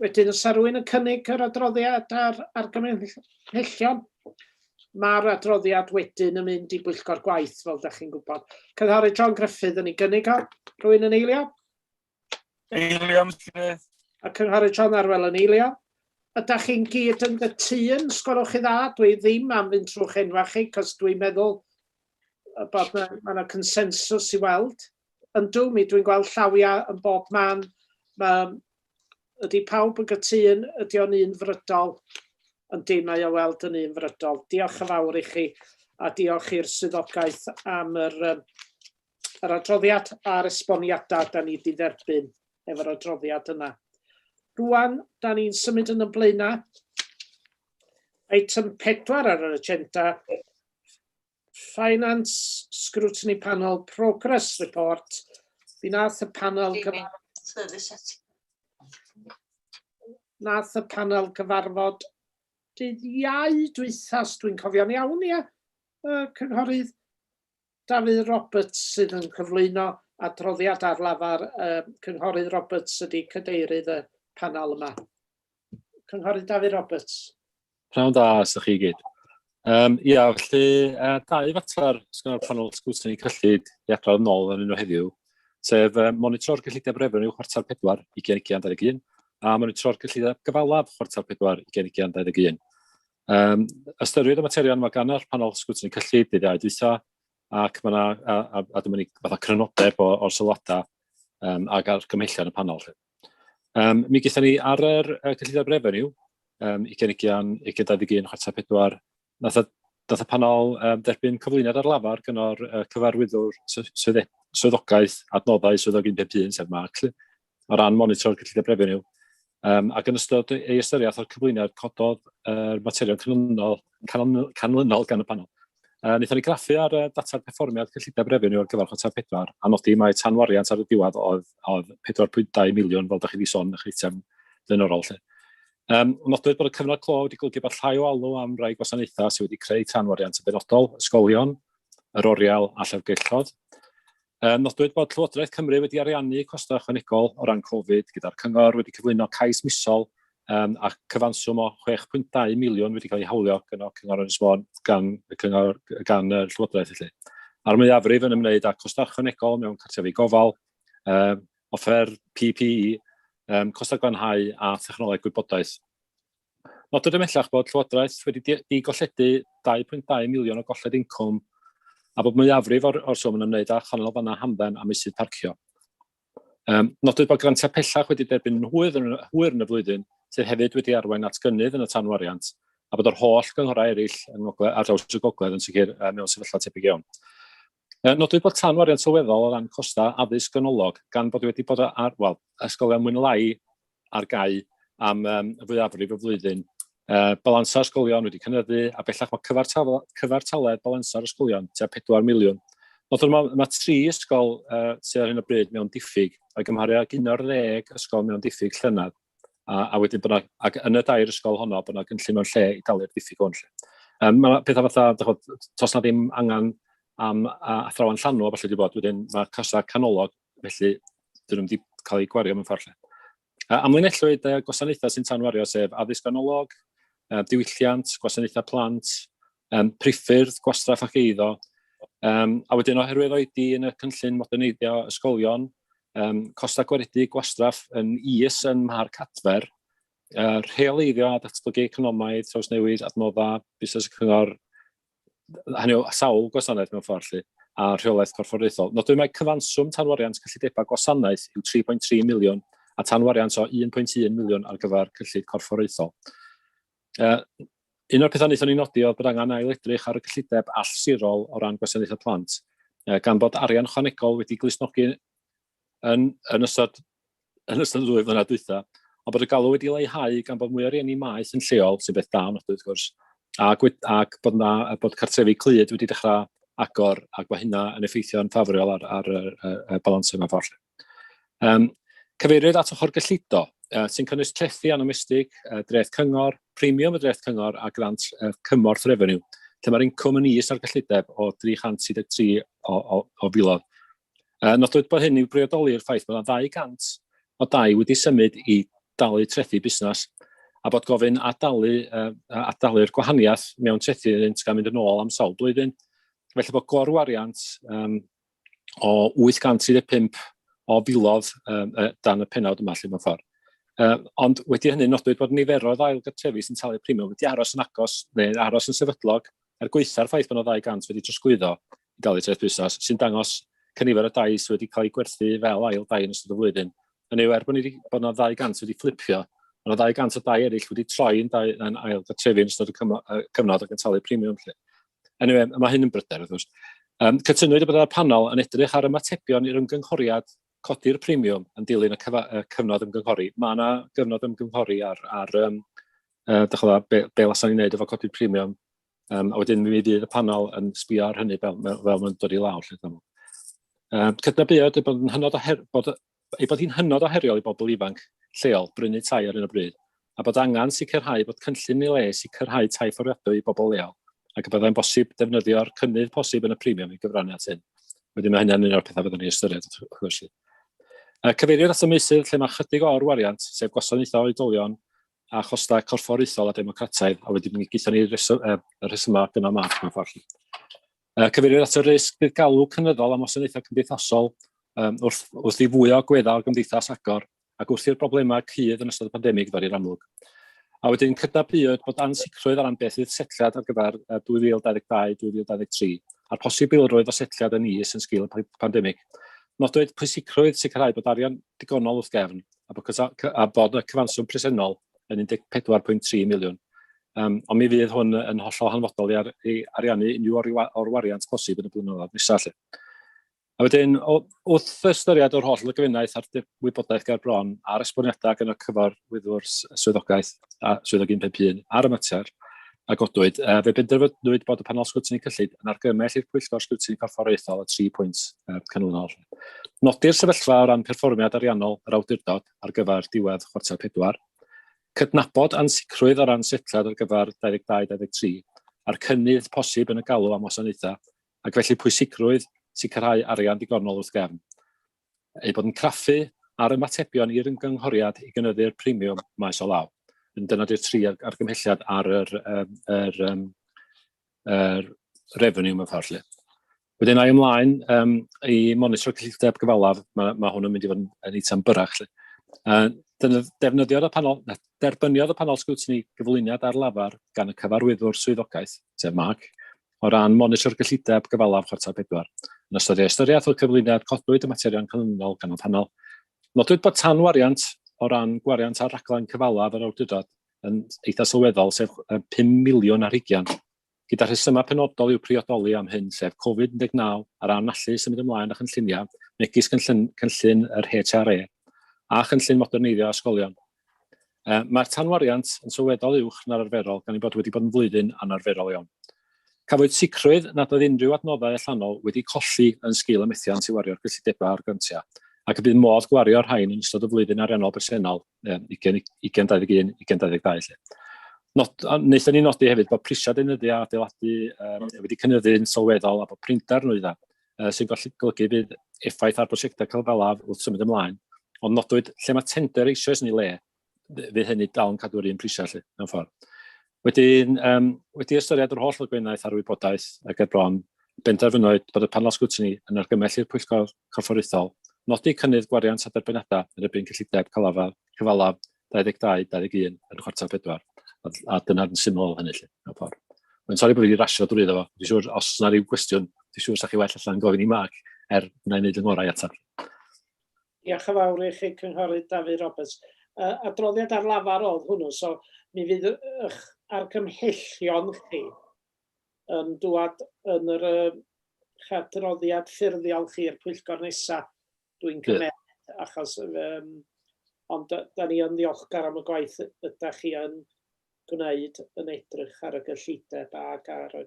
Wedyn, os rwy'n yn cynnig yr adroddiad a'r argymhellion, mae'r adroddiad wedyn yn mynd i bwyllgor gwaith, fel ydych chi'n gwybod. Cynghorydd John Griffith yn ei gynnig o. Rwy'n yn eilio? Eilio, Mr Griffith. A Cynghorydd John Arwel yn eilio. Ydych chi'n gyd yn gytun, sgwelwch chi dda, dwi ddim am fynd trwy'ch enwau chi, cos dwi'n meddwl y bod yna ma yna consensws i weld. Yndw, mi dwi'n gweld llawiau yn bob man. Ma, ydy pawb yn gytun, ydy o'n un frydol? Yndi, mae o weld yn un frydol. Diolch yn fawr i chi a diolch i'r swyddogaeth am yr, um, yr adroddiad a'r esboniadau da ni wedi dderbyn efo'r adroddiad yna. Rwan, da ni'n symud yn ymlaenau. Item 4 ar yr agenda Finance Scrutiny Panel Progress Report, fi nath y panel cyfarfod... Nath y panel cyfarfod dydd iau dwythas, dwi'n cofio'n iawn, ia, y cynghorydd Dafydd Roberts sydd yn cyflwyno adroddiad ar lafar y cynghorydd Roberts ydy cydeirydd y panel yma. Cynghorydd Dafydd Roberts. Pnawn da, os ydych chi i gyd. Um, ia, felly, uh, dau fater sy'n o'r panel sgwtyn i cyllid i adrodd yn ôl yn un o heddiw, sef uh, monitro'r gyllidiau brefn i'w chwarter pedwar i gen i gen 21, a monitro'r gyllidiau gyfalaf chwarter pedwar i gen i gen 21. Um, ystyried y materion mae gan yr panel sgwtyn i cyllid i ddau dwytha, ac mae yna, a, a, a dyma ni fatha crynodeb o'r sylwadau um, ac ar gymhellion y panel. Felly. Um, mi gyda ni ar yr uh, cyllideb refeniw, um, i gynigion i gyda ddig un chwarta pedwar, nath y panel um, derbyn cyflwyniad ar lafar gyda'r uh, cyfarwyddwr swyddogaeth adnoddau swyddog 151, sef Mark, o ran monitro'r cyllideb refeniw. Um, ac yn ystod ei ystyriaeth o'r cyflwyniad cododd yr uh, materion canlynol canlynol gan y panel. Uh, Wnaethon ni graffu ar uh, data'r perfformiad cyllideb refeniw ar gyfer chwarter pedwar a nodi mae tanwariant ar y diwedd oedd, oedd 4.2 miliwn fel da chi wedi sôn yn eich eitem blaenorol. Lle. Um, nodwyd bod y cyfnod clo wedi golygu bod llai o alw am rai gwasanaethau sydd wedi creu tanwariant yn benodol, ysgolion, yr oriel a llyfrgelloedd. Nodwyd bod Llywodraeth Cymru wedi ariannu costau ychwanegol o ran Covid, gyda'r Cyngor wedi cyflwyno cais misol a chyfanswm o 6.2 miliwn wedi cael ei hawlio gan y Cyngor Ynys Môn, gan y Cyngor, gan y Llywodraeth felly. A'r mwyafrif yn ymwneud â costau ychwanegol mewn cartrefi gofal, offer PPE, costau glanhau a thechnoleg gwybodaeth. Nodwyd ymhellach bod Llywodraeth wedi digolledu 2.2 miliwn o golled incwm a bod mwyafrif o'r, or swm yn ymwneud â chanolfannau hamdden a meysydd parcio. Um, nodwyd bod grantiau pellach wedi derbyn yn hwyr yn, hwyr yn y flwyddyn, sydd hefyd wedi arwain at gynnydd yn y tanwariant, a bod yr holl gynghorau eraill yng ngogledd, ar draws y gogledd yn sicr mewn sefyllfa tebyg iawn. Nodwyd bod tanu arian sylweddol o ran costau addysg ganolog gan bod wedi bod ar, wel, ysgolion mwy na lai ar gau am um, fwyafrif y flwyddyn. Uh, balansa ysgolion wedi cynyddu a bellach mae cyfartaledd, cyfartaledd balansa'r ysgolion tua 4 miliwn. Nodwyd mae, mae tri ysgol uh, sydd ar hyn o bryd mewn diffyg o'i gymharu ag un o'r ddeg ysgol mewn diffyg llynedd. a, a wedyn bod yna, ac yn y dair ysgol honno, bod yna gynllun mewn lle i dalu'r diffyg hwn. Um, mae pethau fatha, dychod, tos na ddim angen am athrawon llanw a falle wedi bod, wedyn mae cosau canolog, felly dyn nhw wedi cael eu gwario mewn ffordd lle. Uh, amlinellwyd uh, gwasanaethau sy'n tanwario, sef addysg ganolog, uh, diwylliant, gwasanaethau plant, um, priffyrdd, gwastraff ac eiddo, Um, a wedyn oherwydd oedi yn y cynllun moderneiddio ysgolion, um, costau gwaredu gwastraff yn is yn Mharc Adfer, uh, rheoleiddio a datblygu economaidd, trawsnewid, adnoddau, busnes y cyngor, hynny o sawl gwasanaeth mewn ffordd lle, a rheolaeth corfforaethol. Nodwyd mae cyfanswm tanwariant cyllidebau gwasanaeth yw 3.3 miliwn a tanwariant o 1.1 miliwn ar gyfer cyllid corfforaethol. Uh, un o'r pethau wnaethon ni nodi oedd bod angen ail edrych ar y cyllideb allsirol o ran gwasanaethau plant, uh, gan bod arian chwanegol wedi glusnogi yn, yn ystod yn ystod y ddwy flynedd dwytha, ond bod y galw wedi leihau gan bod mwy o rieni maeth yn lleol, sy'n beth da yn wrth gwrs, ac, ac bod, na, bod cartrefi clyd wedi dechrau agor ac mae hynna yn effeithio'n ffafriol ar, ar, ar, ar, ar balans yma ffordd. Um, cyfeiriwyd at ochr gyllido, uh, sy'n cynnwys trethi anomestig, uh, dreth cyngor, premium y dreth cyngor a grant uh, cymorth refeniw, lle mae'r incwm yn is ar gyllideb o 333 o, o, o filodd. Uh, nodwyd bod hyn i'w briodoli i'r ffaith bod 200 o dai wedi symud i dalu trethi busnes a bod gofyn adalu, uh, adalu'r gwahaniaeth mewn trethi yn gael mynd yn ôl am sawl blwyddyn. Felly bod gorwariant um, o 835 o filodd um, dan y penawd yma lle mewn ffordd. Uh, ond wedi hynny nodwyd bod niferoedd ail gartrefi sy'n talu premium wedi aros yn agos neu aros yn sefydlog er gweitha'r ffaith bod yna 200 wedi trosglwyddo i dalu treth busnes sy'n dangos cynifer o dai sydd wedi cael ei gwerthu fel ail dai yn ystod y flwyddyn. Yn ei wer bod yna 200 wedi fflipio, ond yna 200 o dai eraill wedi troi yn, dai, yn ail gartrefi yn ystod y cyfnod o gyntalu premium. Lle. Anyway, mae hyn yn bryder, wrth gwrs. Um, cytunwyd y byddai'r panel yn edrych ar ymatebion i'r ymgynghoriad codi'r premiwm yn dilyn y, y cyfnod ymgynghori. Mae yna gyfnod ymgynghori ar, ar um, uh, dychwla, be, be lasan ni'n neud efo codi'r premiwm. Um, a wedyn mi fydd y panel yn sbio ar hynny fel, fel mae'n dod i lawr. Lle, um, cydnabuodd bod yn hynod o her, bod ei bod hi'n hynod o heriol i bobl ifanc lleol brynu tai ar hyn o bryd, a bod angen sicrhau bod cynllun yn ei le i sicrhau tai fforddiadwy i bobl leol, ac y byddai'n bosib defnyddio'r cynnydd posib yn y premiwm i gyfrannu at hyn. Wedyn mae hynny'n un o'r pethau fyddwn ni ystyried, wrth gwrs. Yy, cyfeiriwyd at y meysydd lle mae ychydig o'r wariant, sef gwasanaethau oedolion a chostau corfforaethol a democrataidd, a wedi mi gaethon ni reswm, uh, rhesymau gynnal math mewn ffordd. Uh, cyfeirir at y risg bydd galw cynyddol am wasanaethau cymdeithasol um, wrth, wrth i fwy o agweddau o'r gymdeithas agor ac wrth i'r problemau cydd yn ystod y pandemig ddod i'r amlwg. A wedyn cydnabuwyd bod ansicrwydd ar ran beth fydd setliad ar gyfer 2022-2023 a'r posibilrwydd o setliad yn is yn sgil y pandemig. Nodwyd pwysicrwydd sicrhau bod arian digonol wrth gefn a bod, a bod y cyfanswm presennol yn 14.3 miliwn. Yym, ond mi fydd hwn yn hollol hanfodol i ar- i ariannu unrhyw o'r wa- o'r wariant posib yn y blynyddoedd nesa 'lly. A wedyn, o- wrth ystyried yr holl lygfennaeth a'r dy- wybodaeth ger bron, a'r esboniadau gan y Cyfarwyddwr s- Swyddogaeth a Swyddog 151 ar y mater a godwyd, yy, fe benderfynwyd bod y Panel Sgrwtini Cyllid yn argymell i'r Pwyllgor Sgrwtini Corfforaethol y tri pwynt yy, canlynol. Nodi'r sefyllfa o ran perfformiad ariannol yr Awdurdod ar gyfer diwedd chwarter pedwar, Cydnabod ansicrwydd o ran setliad ar gyfer 22-23 a'r cynnydd posib yn y galw am wasanaethau ac felly pwysigrwydd sicrhau arian digonol wrth gefn eu bod yn craffu ar ymatebion i'r ymgynghoriad i gynyddu'r premiwm maes o law. Dyna di'r tri argymhelliad ar yr, yr, yr, yr revenue mewn ffordd lle. Wedyn ai ymlaen um, i monitro cyllideb gyfalaf, mae, mae hwn yn mynd i fod yn, yn eitem byrach. Lle. Uh, defnyddiodd y panel, na, derbyniodd y panel sgwtni gyflwyniad ar lafar gan y cyfarwyddwr swyddogaeth, sef Mark, o ran monitro'r gyllideb gyfalaf chwarter pedwar. Yn ystod ei ystyriaeth o'r cyflwyniad, codwyd y materion canlynol gan y panel. Nodwyd bod tanwariant o ran gwariant ar raglen cyfalaf yr awdurdod yn eitha sylweddol, sef 5 miliwn ar hugian Gyda rhesymau penodol i'w priodoli am hyn, sef Covid 19 a ran allu symud ymlaen â chynlluniau, megis cynllun yr HRA a chynllun moderneiddio ysgolion. Mae'r tanwariant yn sylweddol uwch na'r arferol gan ei bod wedi bod yn flwyddyn anarferol iawn. Cafwyd sicrwydd nad oedd unrhyw adnoddau allanol wedi colli yn sgil y methiant i wario'r gyllidebau a'r grantiau, ac y bydd modd gwario'r rhain yn ystod y flwyddyn ariannol bresennol. 20, 20, 21, 20, 22 lle. Not, wnaethon ni nodi hefyd bod prisiau deunyddiau adeiladu um, wedi cynyddu'n sylweddol a bod prinder nhw iddo, uh, sy'n golygu bydd effaith ar brosiectau cyfalaf wrth symud ymlaen. Ond nodwyd lle mae tender eisoes yn ei le, fydd hynny dal yn cadw'r un prisiau lle, mewn ffordd. Wedyn, um, wedi ystyried yr holl ddogfennaeth a'r wybodaeth a ger bron, benderfynwyd bod y panel sgwtini yn argymell i'r Pwyllgor Corfforaethol nodi cynnydd gwariant a derbyniadau yn erbyn cyllideb cyfalaf, cyfalaf 22-21 yn chwarter pedwar, a, a dyna'n syml hynny lle, mewn ffordd. Mae'n sori bod fi wedi rasio drwy iddo fo, dwi'n siŵr os yna rhyw gwestiwn, dwi'n siŵr sa'ch chi well allan gofyn i Mark, er wna i wneud yng ngorau atab. Diolch yn fawr i chi Cynghorydd Dafydd Roberts. Uh, adroddiad ar lafar oedd hwnnw, so mi fydd eich argymhellion chi yn dŵad yn yr uh, chadroddiad ffurfiol chi i'r pwyllgor nesaf, dwi'n cymryd, achos um, ond da ni yn ddiolchgar am y gwaith yda chi yn gwneud yn edrych ar y gyllideb ac ar y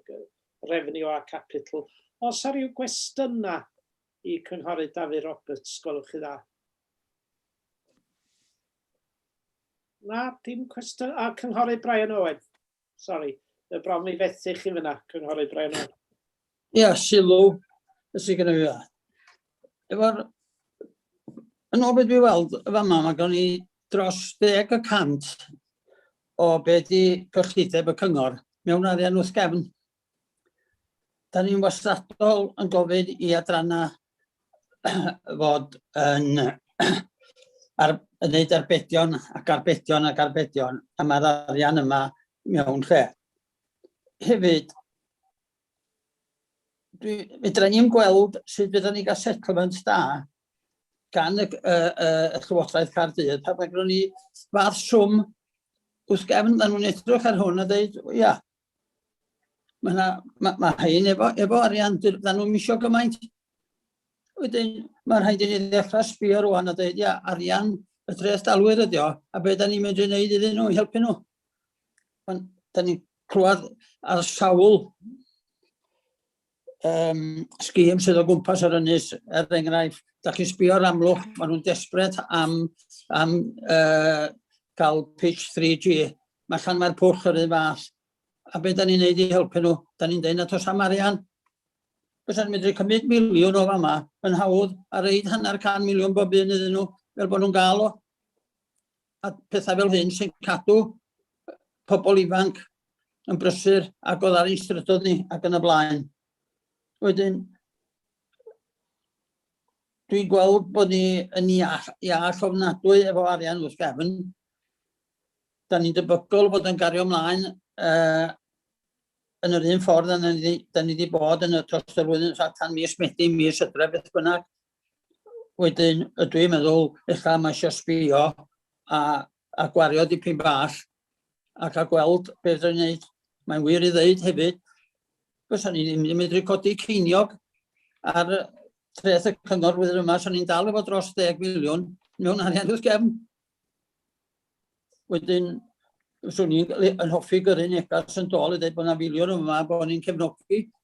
refniw a capital. Os ar ryw gwestiynau Y Cynghorydd Dafydd Roberts, Gwelwch chi dda? Na, dim cwestiwn. A, Cynghorydd Brian Owen. Sorry, y bron mi fethu chi fyna, Cynghorydd Brian Owen. Ia, yeah, sylw, sy'n gyda fi dda. Efo'r... Yn ôl beth fi weld, y fama, mae gen i dros deg y cant o be di cyllideb y cyngor mewn arian wrth gefn. Da ni'n wastadol yn gofyn i adrannau fod yn ar, yn neud arbedion ac arbedion ac arbedion a mae'r arian yma mewn lle. Hefyd, dwi, fedra ni'n gweld sut fydda ni gael settlement da gan y, y, y, y Llywodraeth Caerdydd. Pa mae ni fath swm wrth gefn, maen nhw'n edrych ar hwn a dweud, ia, Mae yna, mae, mae hyn efo, efo arian, dyn nhw'n misio gymaint. Wedyn, mae rhaid i ni ddechrau sbio rwan a dweud, ia, arian y tres dalwyr ydi o, a beth da ni'n mynd i wneud iddyn nhw i helpu nhw. Ond da ni'n clywed ar sawl um, sgîm sydd o gwmpas yr ynys, er enghraifft, da chi'n sbio ar amlwch, maen nhw'n desbryd am, am uh, cael pitch 3G. Mae llan mae'r pwll yr un fath. A beth da ni'n neud i helpu nhw? Da ni'n deud na tos am arian. Fes yn medru cymryd miliwn o fama yn hawdd a reid hanner can miliwn bob un iddyn nhw fel bod nhw'n gael o. a pethau fel hyn sy'n cadw pobl ifanc yn brysur ac oedd ar ein strydoedd ni ac yn y blaen. Wedyn, dwi'n gweld bod ni yn iach, iach ofnadwy efo arian wrth gefn. Da ni'n debygol bod yn gario ymlaen uh, yn yr un ffordd yn ni, da ni wedi bod yn y tros y flwyddyn allan mis Medi, mis Ydre, beth bynnag, wedyn ydw i'n meddwl ella mae eisiau sbio a, a gwario dipyn bach ac a gweld beth ydw'n gwneud. Mae'n wir i ddeud hefyd, fysa ni'n ddim yn medru codi ceiniog ar treth y cyngor flwyddyn yma, so ni'n dal efo dros 10 miliwn mewn arian wrth gefn. Wedyn, fyswn i'n hoffi gyrru negas yn dol i ddeud bod yna filiwn yma bod ni'n cefnogi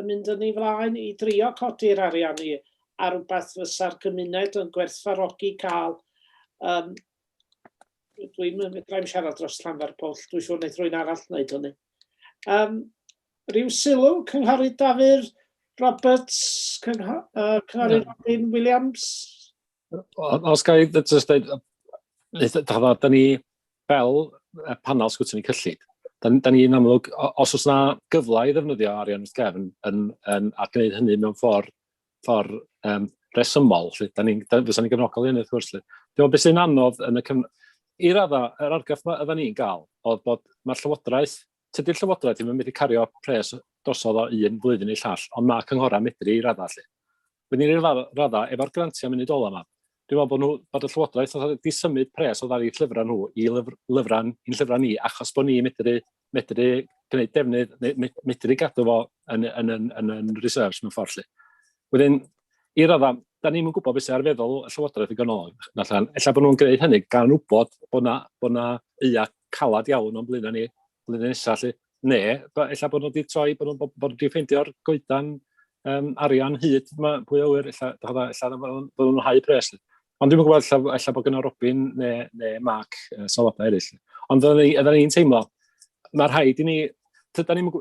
yn mynd yn ei flaen i drio codi'r arian i ar rhywbeth fysa'r gymuned yn gwerthfarogi cael um, dwi'n medrai'm siarad dros Llanfair Pwll, dwi'n siŵr wneud rwy'n arall wneud hynny. Um, rhyw sylw, Cynghorydd Dafyr Roberts, Cynghorydd uh, Robin Williams? Os gael ei just dweud, da ni fel panel sgwtyn i cyllid, da, da ni'n amlwg, os oes yna gyfle i ddefnyddio arian wrth gefn, yn, yn, a gwneud hynny mewn ffordd, ffordd um, resymol, lle, da ni'n, fysa ni'n gefnogol i hynny, wrth gwrs. Dwi'n meddwl beth sy'n anodd yn y cyfn... I radda, yr argraff mae ydyn ni'n gael, oedd bod mae'r llywodraeth, tydy'r llywodraeth ddim yn mynd i cario pres drosodd o un blwyddyn i llall, ond mae cynghorau medru i radda lle. Wedyn i'r raddau, efo'r grantiau munud ola yma, dwi'n meddwl bod, nhw, bod y Llywodraeth oedd wedi symud pres o ddari llyfrau nhw i lyfr, lyfrau, i'n llyfrau ni, achos bod ni medru, medru gwneud defnydd, medru gadw fo yn, yn, yn, yn, yn reserves mewn ffordd lle. Wedyn, i radda, da ni'n gwybod beth sy'n ar feddwl y Llywodraeth i ganol. Efallai bod nhw'n gwneud hynny gan wybod bod yna, bod yna eia calad iawn o'n blaenau ni flwyddyn nesa 'lly. Ne' b- ella bod nhw 'di troi, bod nhw'n bod nhw 'di ffeindio'r goedan um, arian hyd yma, pwy o wir, ella, ella, ella bod nhw'n hau pres. Ond dwi'n gwybod, ella, ella bod gyda Robin neu, neu Mark uh, sylwadau eraill. Ond ydyn ni'n teimlo, mae rhaid i ni tyda ni'n ni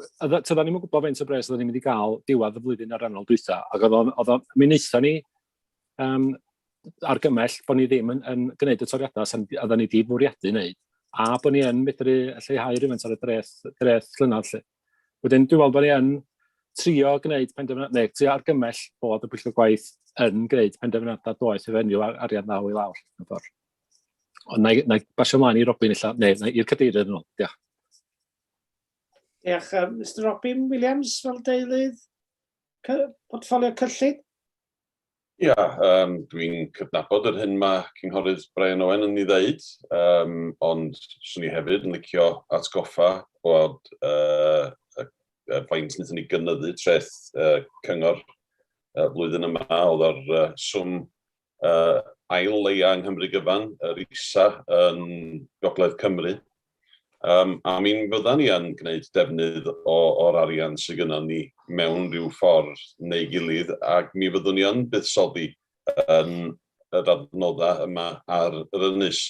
gwybod faint o bres oedden ni'n mynd i gael diwedd y flwyddyn ariannol dwytha, ac oedd o'n, mi wnaethon ni um, argymell bod ni ddim yn, yn gwneud y toriadau sy'n oedden ni wedi fwriadu wneud, a bod ni yn medru lleihau rhywfaint ar y dreth, dreth llynedd. Lle. Wedyn, dwi'n meddwl bod ni yn trio gwneud penderfyniad, neu trio argymell bod y pwyllgor gwaith yn gwneud penderfyniadau doeth i fenyw ar arian ddaw i lawr. Ond na i, na i basio mlaen i Robin, illa, neu na i'r cadeirydd yn ôl. Diolch. Diolch. Um, Mr Robin Williams fel deilydd. portffolio cyllid? Ia, um, dwi'n cydnabod yr hyn mae Cynghorydd Brian Owen yn ei ddeud, um, ond swn i hefyd yn licio atgoffa bod uh, y, y faint wnaethon ni gynyddu treth uh, cyngor uh, flwyddyn yma, oedd o'r uh, swm ail leia yng Nghymru gyfan, yr isa yn Gogledd Cymru, um, a mi fyddan ni yn gwneud defnydd o, o'r arian sydd gyda ni mewn rhyw ffordd neu gilydd, ac mi fyddwn ni yn buddsoddi yn yr adnoddau yma ar yr ynys.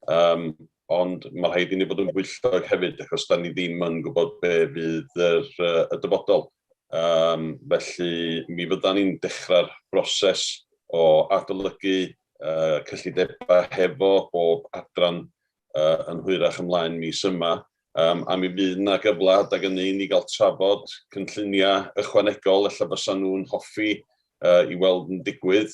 Um, ond mae rhaid i ni fod yn bwyllog hefyd, achos da ni ddim yn gwybod be fydd yr, uh, y dyfodol. Um, felly, mi fydda ni'n dechrau'r broses o adolygu uh, cyllidebau hefo bob adran uh, yn hwyrach ymlaen mis yma. Um, a mi fydd yna gyfle adag yn un i gael trafod cynlluniau ychwanegol, efallai fysa nhw'n hoffi uh, i weld yn digwydd,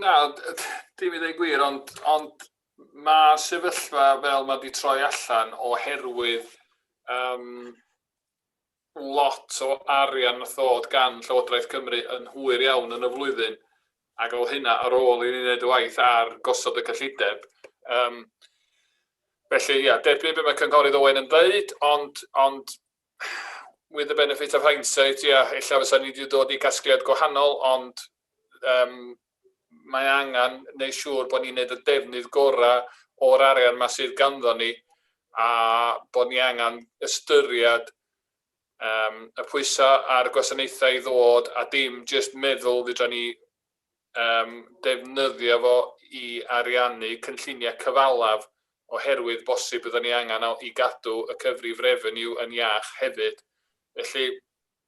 Na, dim i ddweud gwir, ond, ond mae sefyllfa fel mae wedi troi allan oherwydd um, lot o arian nath ddod gan Llywodraeth Cymru yn hwyr iawn yn y flwyddyn, ac oedd hynna ar ôl i ni wneud y waith ar gosod y cyllideb. Um, felly, ia, derbyn beth mae Cynghorydd Owen yn dweud, ond, ond with the benefit of hindsight, ia, yeah, illa fysa ni wedi dod i gasgliad gwahanol, ond um, mae angen neu siŵr bod ni'n gwneud y defnydd gorau o'r arian yma sydd ganddo ni, a bod ni angen ystyried um, y pwysau a'r gwasanaethau i ddod, a dim jyst meddwl fydra ni um, defnyddio fo i ariannu cynlluniau cyfalaf oherwydd bosib byddwn ni angen i gadw y cyfrif revenue yn iach hefyd. Felly,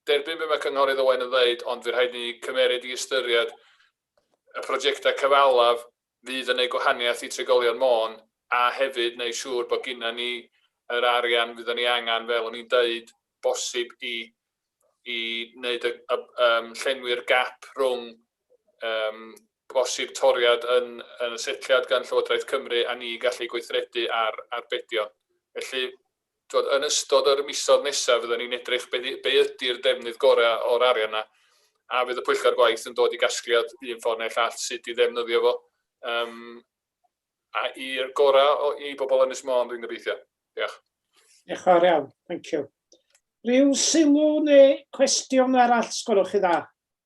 derbyn be mae Cynghorydd Owen yn dweud, ond fe rhaid ni cymeryd i ystyried y prosiectau cyfalaf fydd yn neud gwahaniaeth i trigolion Môn a hefyd neud siŵr bod gynna ni yr arian fyddan ni angan fel o'n i'n deud bosib i i neud y y yym llenwi'r gap rhwng yym bosib toriad yn yn y setliad gan Llywodraeth Cymru a ni gallu gweithredu ar arbedion. Felly Tibod, yn ystod yr misoedd nesaf fyddan ni'n edrych be, be ydy'r defnydd gorau o'r arian yna, a fydd y pwyllgor gwaith yn dod i gasgliad un ffordd neu'r llall sut i ddefnyddio fo, um, a i'r gorau i bobl yn Ynys Môn, dwi'n gobeithio. Diolch. Diolch yn fawr iawn, thank you. Rhyw sylw neu cwestiwn arall, sgwrwch chi dda?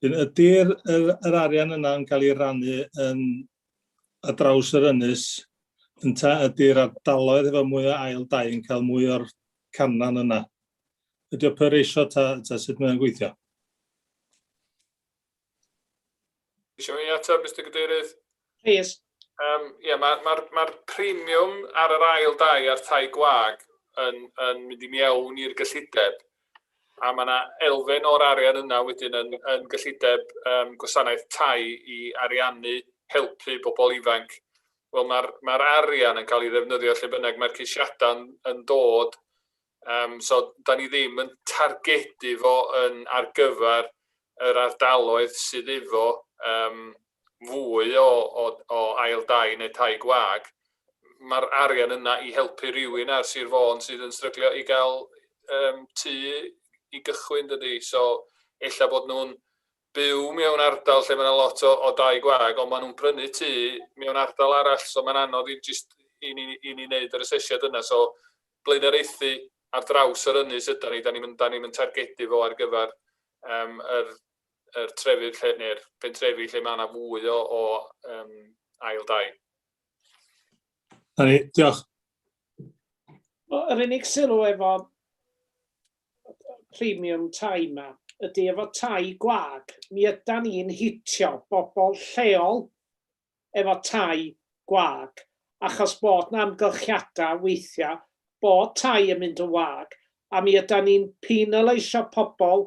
Wedyn ydy'r yr yr arian yna'n cael ei rannu yn ar draws yr ynys ynta ydy'r ardaloedd efo mwy o ail dai yn cael mwy o'r canran yna? Ydy o per ratio ta, ta sut mae'n gweithio? Eisiau ei ateb, Mr Cadeirydd? Rhys. Um, yeah, Mae'r ma, ma, ma premium ar yr ail dau a'r tai gwag yn, yn mynd i mewn i'r gyllideb a mae yna elfen o'r arian yna wedyn yn, yn gyllideb um, gwasanaeth tai i ariannu helpu bobl ifanc. Wel, mae'r ma arian yn cael ei ddefnyddio lle bynnag mae'r ceisiadau yn, yn dod Um, so, da ni ddim yn targedu fo yn ar gyfer yr ardaloedd sydd efo um, fwy o, o, o ail dai neu tai gwag. Mae'r arian yna i helpu rhywun ar Sir Fôn sydd yn stryglio i gael um, tu i gychwyn dydy. So, ella bod nhw'n byw mewn ardal lle mae 'na lot o o dai gwag ond maen nhw'n prynu tŷ mewn ardal arall so mae'n anodd i jyst i ni i ni wneud yr asesiad yna so blaenoriaethu ar draws yr ynys ydan ni, da ni'm yn da ni'm yn targedu fo ar gyfer yym yr yr trefydd lle neu'r pentrefi lle mae yna fwy o o yym ail dai. Da ni, diolch. Wel, yr unig sylw efo premium tai 'ma ydy efo tai gwag mi ydan ni'n hitio bobl lleol efo tai gwag achos bod 'na amgylchiadau weithiau bod tai yn mynd yn wag a mi ydan ni'n penaleisio pobl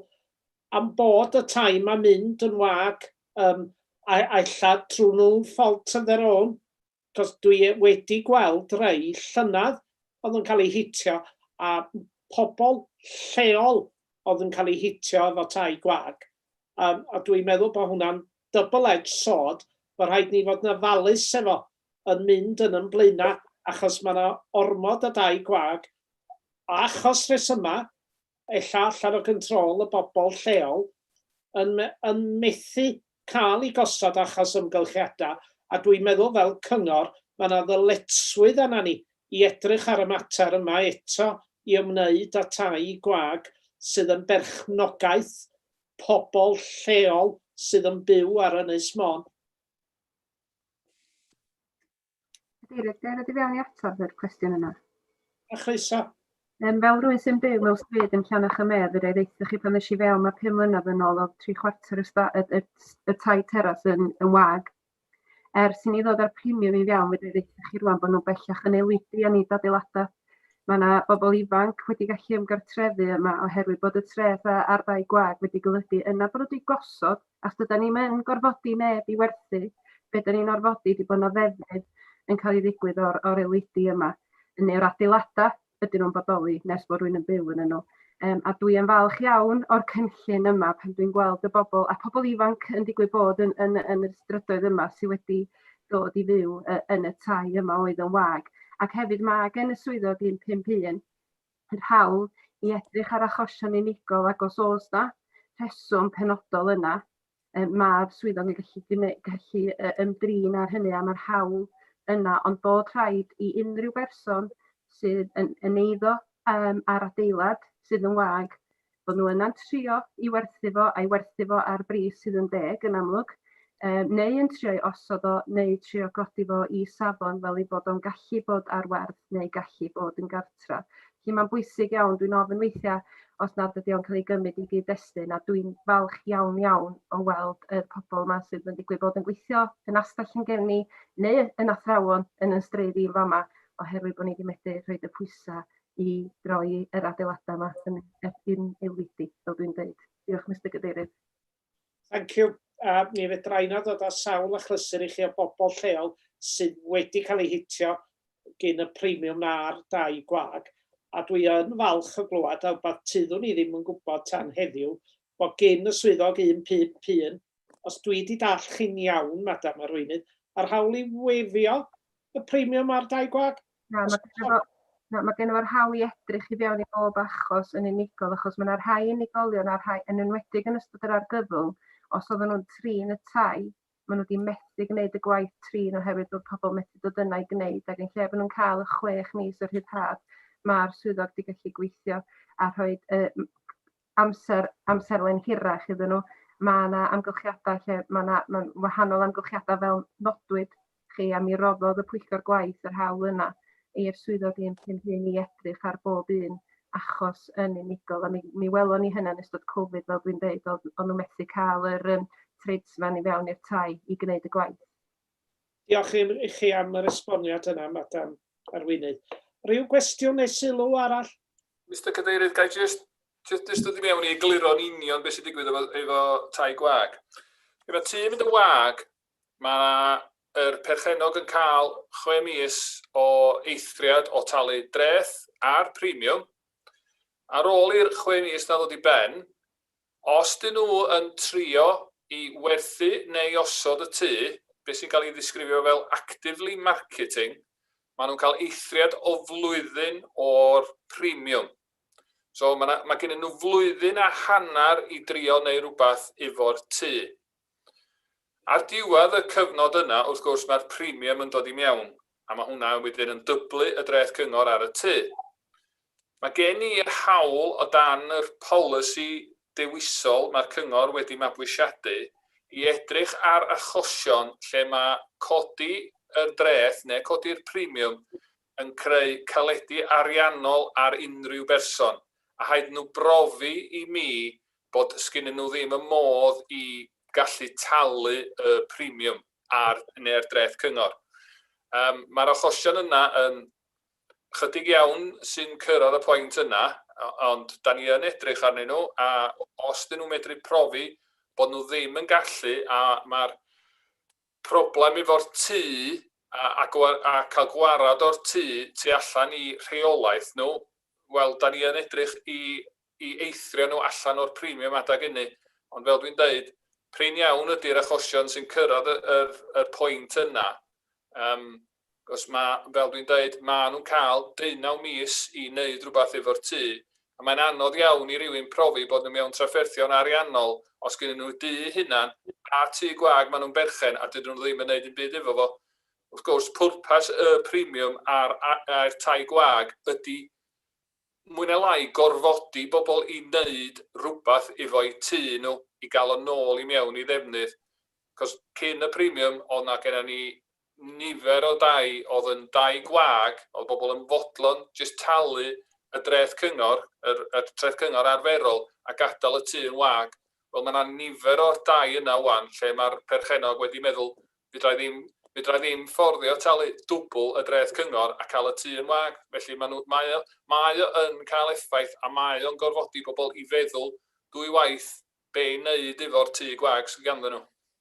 am bod y tai 'ma'n mynd yn wag yym a ella trwy nhw fault of their own Cos dwi wedi gweld rei llynedd oedd yn cael eu hitio a pobl lleol oedd yn cael eu hitio efo tai gwag. Um, a dwi'n meddwl bod hwnna'n double-edged sword, bod rhaid ni fod yn ofalus efo yn mynd yn ymblaenau achos mae yna ormod o dai gwag achos rhesymau y llall ar y control y bobl lleol yn yn methu cael i gosod achos ymgylchiadau a dwi'n meddwl fel cyngor mae yna ddyletswydd arna ni i edrych ar y mater yma eto i ymwneud â tai gwag sydd yn berchnogaeth pobl lleol sydd yn byw ar Ynys Môn. Cadeirydd, gael ddod i fewn i atab yr cwestiwn yna. A chroeso. Um, fel rwy'n sy'n byw mewn stryd yn Llanach y Medd, yr ddeitha chi pan ddys i fewn mae pum mlynedd yn ôl o tri chwarter y, sta, y, y, y tai teras yn, yn wag. Er sy'n ei ddod ar premium i fewn, fe ddeitha chi rwan bod nhw'n bellach yn eludu a nid adeiladau. Mae yna bobl ifanc wedi gallu ymgartrefu yma oherwydd bod y treth a'r ddau gwag wedi golygu yna bod nhw wedi gosod Os ydan ni'm yn gorfodi neb i werthu, be' 'dan ni'n orfodi 'di bo' 'na ddefnydd yn ca'l 'i ddigwydd o'r o'r eledi yma, yn neu'r adeilada' ydyn nhw'n bodoli nes bo' rywun yn byw ynnyn nhw. Yym a dwi yn falch iawn o'r cynllun yma pan dwi'n gweld y bobl a pobl ifanc yn digwydd bod yn yn yn y strydoedd yma sy wedi dod i fyw yy yn y tai yma oedd yn wag. Ac hefyd ma' gen y swyddog un pump un yr hawl i edrych ar achosion unigol ac os oes 'na rheswm penodol yna yy ma'r swyddog yn gallu gwneu- gallu yy ymdrin â hynny a ma'r hawl yna ond bod rhaid i unrhyw berson sydd yn yn eiddo yym ar adeilad sydd yn wag Bod nhw yna'n trio i werthu fo a'i werthu fo ar bris sydd yn deg yn amlwg, yy neu yn trio'i osod o neu trio godi fo i safon fel ei bod o'n gallu bod ar werth neu gallu bod yn gartra. Felly mae'n bwysig iawn, dwi'n ofyn weithiau os nad ydy o'n cael ei gymryd i gyd-destun a dwi'n falch iawn iawn o weld y pobl yma sydd yn digwydd bod yn gweithio yn astell yn gen ni neu yn athrawon yn yn streidd i'n fama oherwydd bod ni wedi methu rhoi y pwysau i droi yr adeiladau yma yn erbyn aelwydi, fel dwi'n dweud. Diolch, Mr Cadeirydd. Thank you. Uh, mi fedra i na ddod â sawl achlysur i chi o bobl lleol sydd wedi cael ei hitio gyn y premium na'r dau gwag. A dwi yn falch o glywed a wbeth tyddwn ni ddim yn gwybod tan heddiw bod gyn y swyddog 151, os dwi wedi dall chi'n iawn, Madam Arweinydd, yr hawl i weifio y premium a'r dau gwag. Na, mae gennym fo- na, mae gennym fo'r hawl i edrych i fewn i bob achos yn unigol, achos mae yna rhai unigolion a rhai, yn enwedig yn ystod yr argyfwng, os oedden nhw'n trin y tai, maen nhw wedi methu gwneud y gwaith trin oherwydd bod pobl methu dod yna i gwneud, ac yn lle bod nhw'n cael y chwech mis o rhyddhad, mae'r swyddog wedi gallu gweithio a rhoi y amser, amserlen hirach iddyn nhw. Mae yna amgylchiadau lle mae yna mae'n wahanol amgylchiadau fel nodwyd chi a mi roddodd y pwyllgor gwaith yr hawl yna i'r swyddog un cyn hyn i edrych ar bob un achos yn unigol a mi, mi welon ni hynna yn ystod Covid fel dwi'n deud oedd o'n nhw methu cael yr um, tradesman i fewn i'r tai i gwneud y gwaith. Diolch i i chi am yr esboniad yna, Madam Arweinydd. Ryw gwestiwn neu sylw arall? Mister Cadeirydd, ga i jyst jyst jyst dod i mewn i egluro'n union beth sy'n digwydd efo efo tai gwag. Pryd mae tŷ'n mynd yn wag, mae yr perchennog yn cael chwe mis o eithriad o talu dreth a'r premium. Ar ôl i'r chwe mis 'na ddod i ben, Os 'dyn nhw yn trio i werthu neu osod y tŷ, beth sy'n cael ei ddisgrifio fel actively marketing, maen nhw'n cael eithriad o flwyddyn o'r premium. So, mae 'na, mae gennyn nhw flwyddyn a hanner i drio neu rywbeth efo'r tŷ. Ar diwedd y cyfnod yna, wrth gwrs, mae'r premium yn dod i mewn, a mae hwnna wedyn yn dyblu y dreth cyngor ar y tŷ. Mae gen i'r hawl, o dan yr polisi dewisol mae'r cyngor wedi mabwysiadu, i edrych ar achosion lle mae codi y dreth neu codi'r premium yn creu caledi ariannol ar unrhyw berson, a rhaid nhw brofi i mi bod sgynnyn nhw ddim y modd i gallu talu y premium ar neu'r dreth cyngor. Yym, mae'r achosion yna yn chydig iawn sy'n cyrraedd y pwynt yna, ond da ni yn edrych arnyn nhw, a os dyn nhw'n medru profi bod nhw ddim yn gallu, a mae'r Problem efo'r tŷ a cael gwarad o'r tŷ tu allan i rheolaeth nhw, wel, 'da ni yn edrych i eithrio nhw allan o'r premium adeg ynny, ond fel dwi'n deud, prin iawn ydy'r achosion sy'n cyrraedd y pwynt yna. Achos ma', fel dwi'n deud, maen nhw'n cael deunaw mis i wneud rhywbeth efo'r tŷ, a mae'n anodd iawn i rywun profi bod nhw mewn trafferthion ariannol os gynnyn nhw dŷ eu hunan a tŷ gwag maen nhw'n berchen a dydyn nhw ddim yn wneud dim byd efo fo. Wrth gwrs, pwrpas y premiwm a'r a'r tai gwag ydy mwy neu lai gorfodi bobl i wneud rhywbeth efo'u tŷ nhw i gael o nôl i mewn i ddefnydd. Achos cyn y premiwm oedd 'na gennym ni nifer o dai oedd yn dai gwag, oedd bobl yn fodlon jyst talu y dreth cyngor, yr yr treth cyngor arferol a gadael y tŷ yn wag. Wel mae 'na nifer o'r dai yna ŵan lle mae'r perchennog wedi meddwl 'fedra i ddim, 'fedra i ddim fforddio talu dwbl y dreth cyngor a cael y tŷ yn wag. Felly mae nhw, mae o, mae o yn cael effaith a mae o'n gorfodi pobl i feddwl dwy waith be' i wneud efo'r tŷ gwag sydd ganddyn nhw.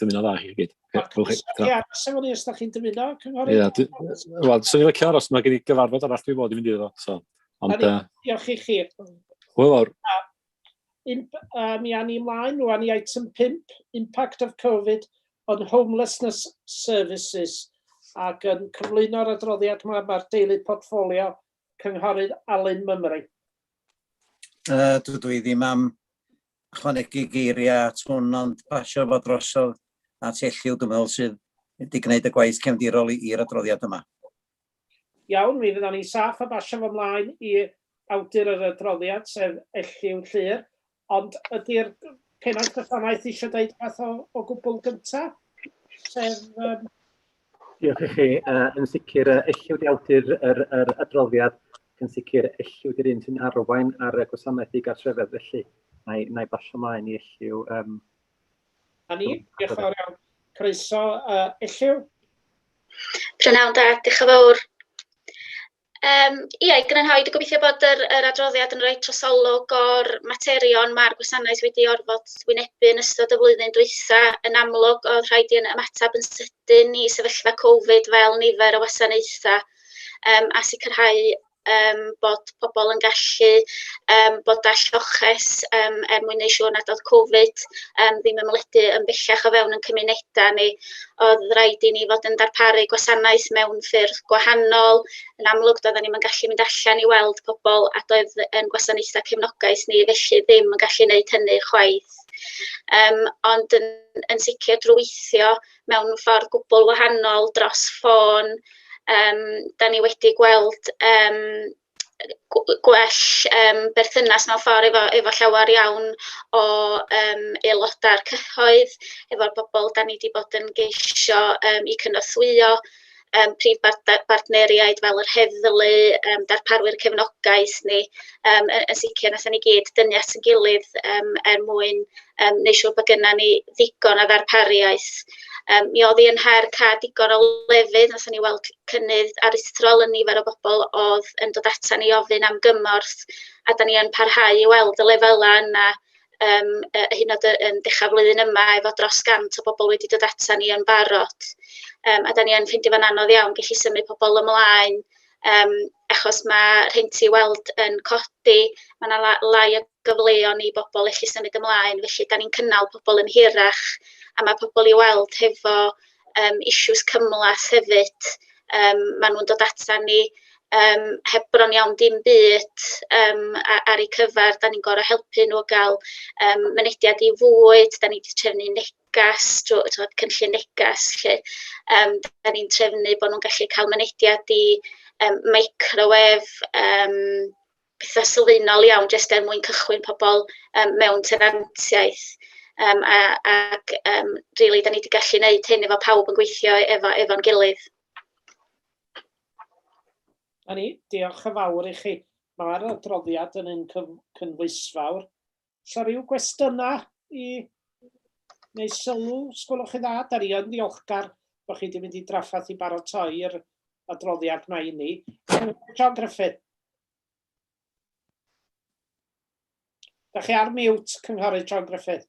dymuno dda chi gyd. Ia, sef o'n i os da chi'n dymuno, cynghorydd? Ia, wel, swn i'n licio aros, mae gen i gyfarfod arall dwi'n bod i fynd iddo, so. Ond, uh, diolch i chi. Wel, o'r... Um, mi a ni ymlaen rwan i item 5, Impact of Covid on Homelessness Services, ac yn cyflwyno'r adroddiad yma mae'r deulu portfolio cynghorydd Alun Mymru. Uh, dydw i ddim am ychwanegu geiriau at hwn ond pasio fo drosodd at Elliw dwi'n meddwl sydd wedi gwneud y gwaith cefndirol i'r adroddiad yma. Iawn, mi fyddan ni'n saff a basio fo mlaen i awdur yr adroddiad, sef Elliw Llŷr. Ond ydi'r Pennaeth Gwasanaeth eisiau deud rhywbeth o gwbl gynta'? Sef yym Diolch i chi. Uh, yn sicr, uh, elliwyd i awdur yr, yr adroddiad, yn sicr elliwyd i'r un sy'n arwain ar y gwasanaeth i gartrefedd, felly na i, na i basio mlaen i elliw. Um, a ni, diolch yn fawr iawn. Croeso, uh, elliw. Prynhawn da, diolch yn fawr. Yym ia, i grynhoi, dwi'n gobeithio bod yr yr adroddiad yn rhoi trosolwg o'r materion ma'r gwasanaeth wedi orfod wynebu yn ystod y flwyddyn dwytha. Yn amlwg, oedd rhaid i ni ymateb yn sydyn i sefyllfa Covid fel nifer o wasanaethau yym a sicrhau yym bod pobl yn gallu yym bod â lloches yym er mwyn wneud siŵr nad oedd Covid yym ddim yn mynwedig yn bellach o fewn ein cymunedau ni. oedd rhaid i ni fod yn darparu gwasanaeth mewn ffyrdd gwahanol. Yn amlwg, doedden ni'n gallu mynd allan i weld pobl a doedd yn gwasanaethau cefnogaeth ni felly ddim yn gallu gwneud hynny chwaith. Um, ond yn, yn sicr drwy weithio mewn ffordd gwbl wahanol dros ffôn, um, da ni wedi gweld um, gw- gwell yym berthynas mewn ffordd efo efo llawer iawn o yym aelodau'r cyhoedd, efo'r bobl 'dan ni 'di bod yn geisio yym eu cynorthwyo, yym prif bartner- bartneriaid fel yr heddlu, yym darparwyr cefnogaeth ni, yym yy yn sicr wnaethon ni gyd dynnu at ein gilydd yym er mwyn yym neu' siŵr bod gynnon ni ddigon o ddarpariaeth. Yym mi o'dd 'i yn her ca'l digon o lefydd, nathon ni weld cynnydd aruthrol yn nifer o bobol o'dd yn dod atan ni i ofyn am gymorth, a 'dan ni yn parhau i weld y lefela' yna yym yy hyd yn o'd yy yn dechra flwyddyn yma efo dros gant o bobol wedi dod atan ni yn barod yym a 'dan ni yn ffeindio fo'n anodd iawn gellu symud pobol ymlaen yym achos ma' rhenti i weld yn codi, ma' 'na la- lai o gyfleon i bobl allu symud ymlaen, felly dan ni'n cynnal pobl yn hirach a mae pobl i weld hefo um, issues cymlas hefyd. Um, maen nhw'n dod ata ni um, heb bron iawn dim byd um, ar eu cyfer. Da ni'n gorau helpu nhw gael um, mynediad i fwyd, da ni wedi trefnu negas, drwy cynllun negas. Lle. Um, da ni'n trefnu bod nhw'n gallu cael mynediad i um, microwef, um, petha sylfaenol iawn jyst er mwyn cychwyn pobl yym mewn tenantiaeth, yym a ac yym rili 'dan ni 'di gallu neud hyn efo pawb yn gweithio efo efo'n gilydd. A ni, diolch yn fawr i chi. Mae'r adroddiad yn un cyf- cynhwysfawr Sa rhyw gwestiynau i neu sylw, sgwylwch chi dda, da ni yn ddiolchgar bod chi wedi mynd i draffaeth i baratoi'r adroddiad mae i ni. John Griffith. Da chi ar mute, Cynghorydd John Griffith.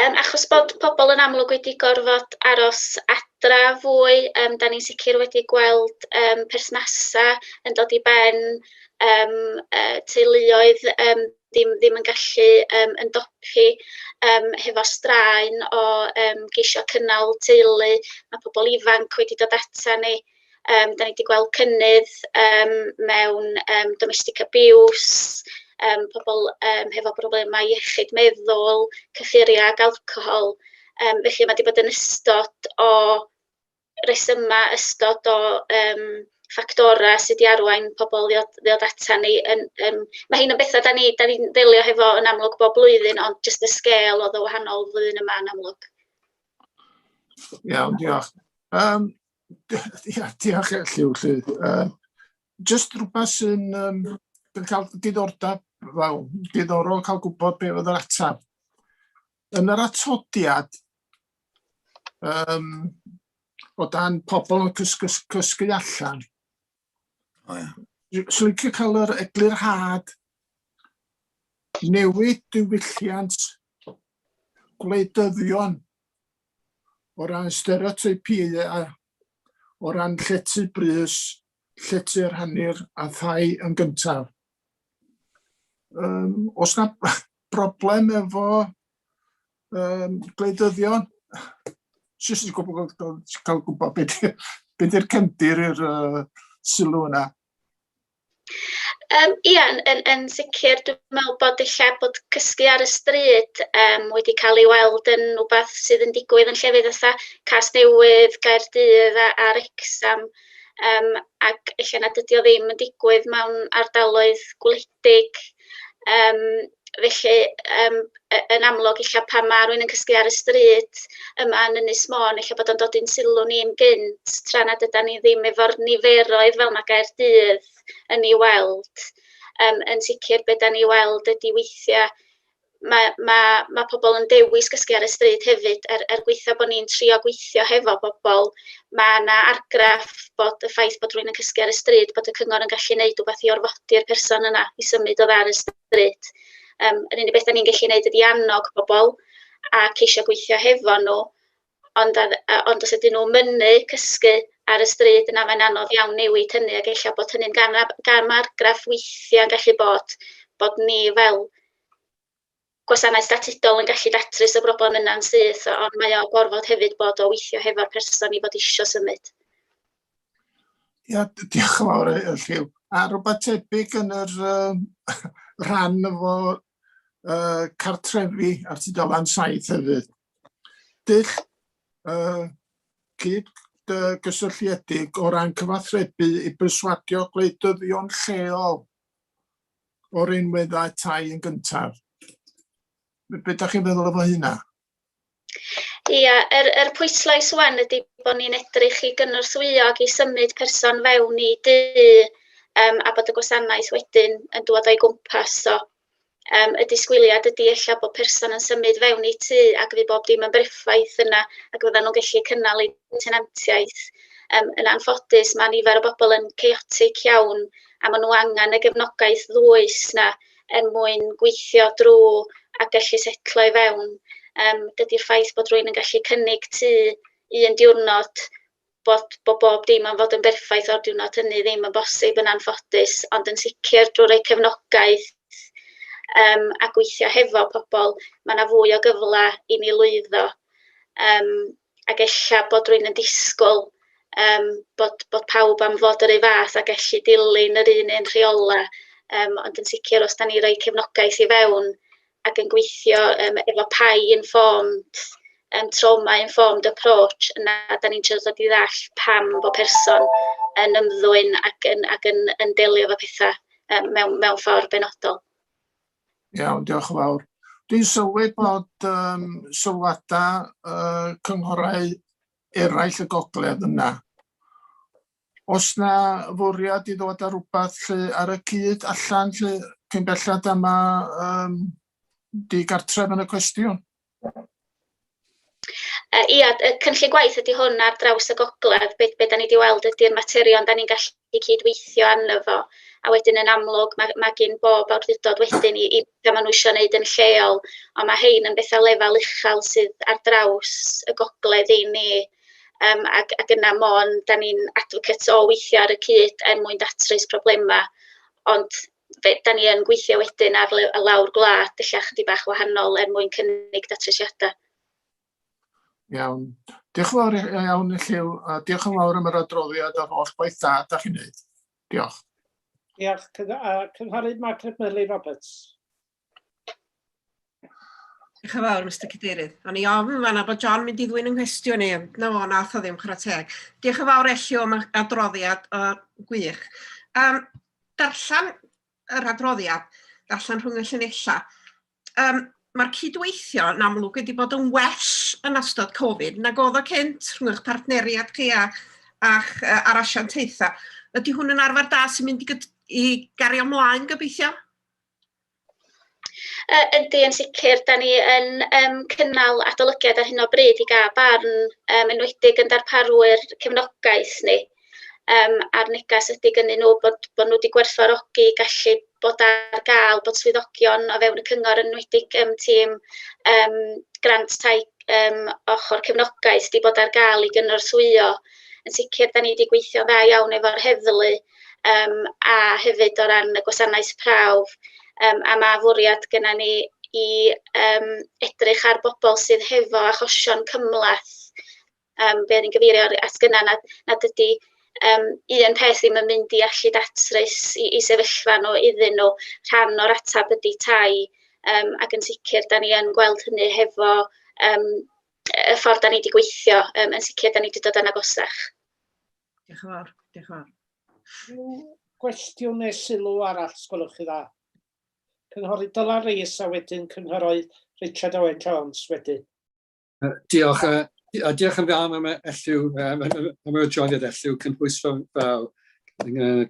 Yym achos bod pobl yn amlwg wedi gorfod aros adra fwy, yym dan ni'n sicr wedi gweld yym perthnasau yn dod i ben, yym yy teuluoedd yym ddim ddim yn gallu yym ymdopi yym hefo straen o yym geisio cynnal teulu, ma' pobl ifanc wedi dod atan ni. yym dan ni 'di gweld cynnydd yym mewn yym domestic abuse, yym pobl yym hefo problemau iechyd meddwl, cyffuriau ac alcohol, yym felly ma' 'di bod yn ystod o resymau, ystod o yym ffactorau sy' 'di arwain pobl i ddod ddod ata ni yn yym... ma' rhein yn betha dan ni dan ni'n delio hefo yn amlwg bob blwyddyn, ond jyst y sgêl oedd o wahanol flwyddyn yma yn amlwg. Iawn, diolch. Yym. Ia, diolch Lliw, lly. Uh, just rhywbeth sy'n um, cael diddordeb, wel, diddorol cael gwybod beth oedd yr ateb. Yn yr atodiad, um, o dan pobl yn cysgu, cysgu allan, O ia. Swn licio cael yr eglurhad newid diwylliant gwleidyddion o ran stereotypiau a o ran llety brys, llety rhannu'r a thai yn gyntaf. Um, os na broblem efo um, gwleidyddion, jyst i gwybod, cael gwybod beth ydy'r cefndir i'r uh, sylw yna. Um, ia, yn, yn, yn sicr, dwi'n meddwl bod eich bod cysgu ar y stryd um, wedi cael ei weld yn rhywbeth sydd yn digwydd yn llefydd ytha Cas Newydd, Gaerdydd a, a Rexham, um, ac eich nad ydy o ddim yn digwydd mewn ardaloedd gwledig Yym felly yym y- yn amlwg ella pan ma' rywun yn cysgu ar y stryd yma yn Ynys Môn ella bod o'n dod i'n sylw ni'n gynt tra nad ydan ni ddim efo'r niferoedd fel ma' Caerdydd yn ei weld. Yym yn sicr be' 'dan ni weld ydi weithia' mae mae mae pobl yn dewis gysgu ar y stryd hefyd, er er gweitha' bod ni'n trio gweithio hefo bobl, mae 'na argraff bod y ffaith bod rhywun yn cysgu ar y stryd, bod y cyngor yn gallu wneud rhywbeth i orfodi'r person yna i symud oddi ar y stryd. Yym yr unig beth 'da ni'n gallu wneud ydi annog pobl a ceisio gweithio hefo nhw Ond a- a... ond os ydyn nhw'n mynnu cysgu ar y stryd, yna mae'n anodd iawn newid hynny, ac ella bod hynny'n gam ar- gam argraff weithiau yn gallu bod, bod ni fel gwasanaeth statudol yn gallu datrys y broblem yna'n syth, ond mae o'n gorfod hefyd bod o weithio hefo'r person i fod eisiau symud. Ia, d- diolch yn fawr, yy, Lliw. A rhywbeth tebyg yn yr yym, rhan efo yy, cartrefi ar tudalen saith hefyd. dull uh, cyd uh, gysylltiedig o ran cyfathrebu i berswadio gwleidyddion lleol o'r unweddau tai yn gyntaf. Be ydych chi'n meddwl efo hynna? Ia, yr, yr pwyslais wan ydy bod ni'n edrych i gynorthwyo ac i symud person fewn i du um, a bod y gwasanaeth wedyn yn dod o'i gwmpas. So, Yym y disgwyliad ydy ella bod person yn symud fewn i tŷ ac fydd bob dim yn berffaith yna ac fyddan nhw'n gallu cynnal eu tenantiaeth. Yym yn anffodus mae nifer o bobl yn chaotic iawn a maen nhw angen y gefnogaeth ddwys 'na er mwyn gweithio drwy a gallu setlo i fewn. Yym dydy'r ffaith bod rhywun yn gallu cynnig tŷ un diwrnod bod bod bob dim am fod yn berffaith o'r diwrnod hynny ddim yn bosib yn anffodus, ond yn sicr drwy roi cefnogaeth yym a gweithio hefo pobl, mae 'na fwy o gyfle i ni lwyddo, yym ac ella bod rywun yn disgwyl yym bod bod pawb am fod yr un fath a gallu dilyn yr un un rheolau, yym ond yn sicr os 'da ni'n rhoi cefnogaeth i fewn, ac yn gweithio yym efo PAI Informed yym Trauma Informed Approach, yna dan ni'n trio dod i ddallt pam bod person yn ymddwyn ac yn ac yn yn delio efo petha yym mewn mewn ffordd benodol. Iawn, diolch yn fawr. Dwi'n sylwi bod um, sylwadau uh, cynghorau eraill y gogledd yna. Os na fwriad i ddod â rhywbeth lle ar y cyd allan lle cyn belled a ma um, di gartref yn y cwestiwn. Uh, ia, y cynllun gwaith ydy hwn ar draws y gogledd. Be, be da ni wedi weld ydy'r materion da ni'n gallu cydweithio arno fo. A wedyn yn amlwg mae, mae gen bob awdurdod wedyn i, i beth maen nhw eisiau gwneud yn lleol. Ond mae hein yn bethau lefel uchel sydd ar draws y gogledd i ni. Yym ac ac yna mond dan ni'n advocates o weithio ar y cyd er mwyn datrys problemau, ond be dan ni yn gweithio wedyn ar le- ar lawr gwlad ella chydig bach wahanol er mwyn cynnig datrysiadau. Iawn. Diolch yn fawr i- i- iawn i Lliw, a diolch yn fawr am yr adroddiad a'r holl gwaith da da chi'n neud. Diolch. Diolch. Cyng- a Cynghorydd Margaret Murley Roberts. Diolch yn fawr, Mister Cadeirydd. O'n i ofn yn fanna bod John mynd i ddwyn yng nghwestiwn i, ond na fo, nath o ddim chwarae teg. Diolch yn fawr Elliw am y adroddiad o gwych. Um, darllen yr adroddiad, darllen rhwng y llinellau. Um, Mae'r cydweithio yn amlwg wedi bod yn well yn ystod Covid nag oedd o cynt rhwng eich partneriad chi a, a'ch uh, ar asiantaethau. Ydy hwn yn arfer da sy'n mynd i, i gario mlaen gobeithio? Yy yndi yn sicr, dan ni yn yym cynnal adolygiad ar hyn o bryd i gael barn yym enwedig yn darparwyr cefnogaeth ni yym a'r neges ydi gynnu nhw bod bod nhw 'di gwerthfawrogi gallu bod ar gael bod swyddogion o fewn y cyngor enwedig yym tîm yym grant tai yym ochr cefnogaeth 'di bod ar gael i gynorthwyo yn sicr dan ni 'di gweithio'n dda iawn efo'r heddlu. yym a hefyd o ran y gwasanaeth prawf, yym a ma' fwriad gynnon ni i yym edrych ar bobl sydd hefo achosion cymhleth, yym be o'n i'n gyfeirio at gynna' nad nad ydi yym un peth ddim yn mynd i allu datrys 'u 'u sefyllfa nhw iddyn nhw, rhan o'r ateb ydi tai, yym ac yn sicr 'dan ni yn gweld hynny hefo yym y ffordd 'dan ni 'di gweithio, yym yn sicr 'dan ni 'di dod yn agosach. Diolch yn fawr, diolch yn fawr. Rhyw gwestiwn neu sylw arall, sgwylwch chi dda. Cynghorydd Dylan Rees a wedyn cynghorydd Richard Owen Jones wedyn. Diolch, a diolch yn fawr am elliw, am yr adroddiad elliw, cynhwysfawr yn fawr.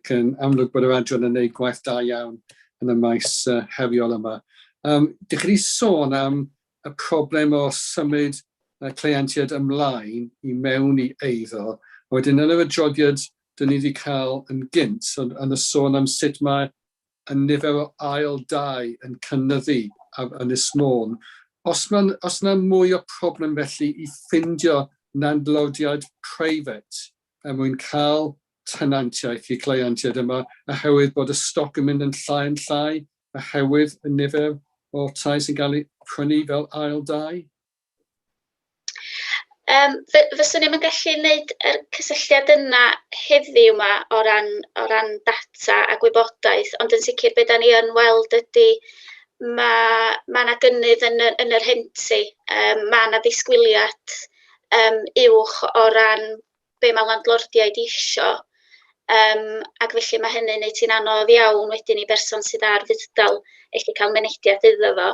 Cyn amlwg bod yr adran yn gwneud gwaith da iawn yn y maes heriol yma. Um, dych chi wedi sôn am y problem o symud y cleientiaid ymlaen i mewn i eiddo, a wedyn yn yr adroddiad dyn ni wedi cael yn gynt yn yn y sôn am sut mae y nifer o ail dai yn cynyddu ar Ynys Môn. Os mae'n os yna mwy o problem felly i ffindio nandlordiad private er mwyn cael tenantiaeth i cleientiaid yma oherwydd bod y stoc yn mynd yn llai yn llai oherwydd y nifer o tai sy'n cael eu prynu fel ail dai? Um, fyswn ni'n gallu gwneud yr cysylltiad yna heddiw yma o ran, o ran data a gwybodaeth, ond yn sicr beth da ni yn weld ydy mae ma yna gynnydd yn, y, yn yr henti, um, mae yna ddisgwyliad um, uwch o ran be ma' landlordiaid isio, yym ac felly ma' hynny'n wneud hi'n anodd iawn wedyn i berson sydd ar fudd-dal ellu cael mynediad iddo fo.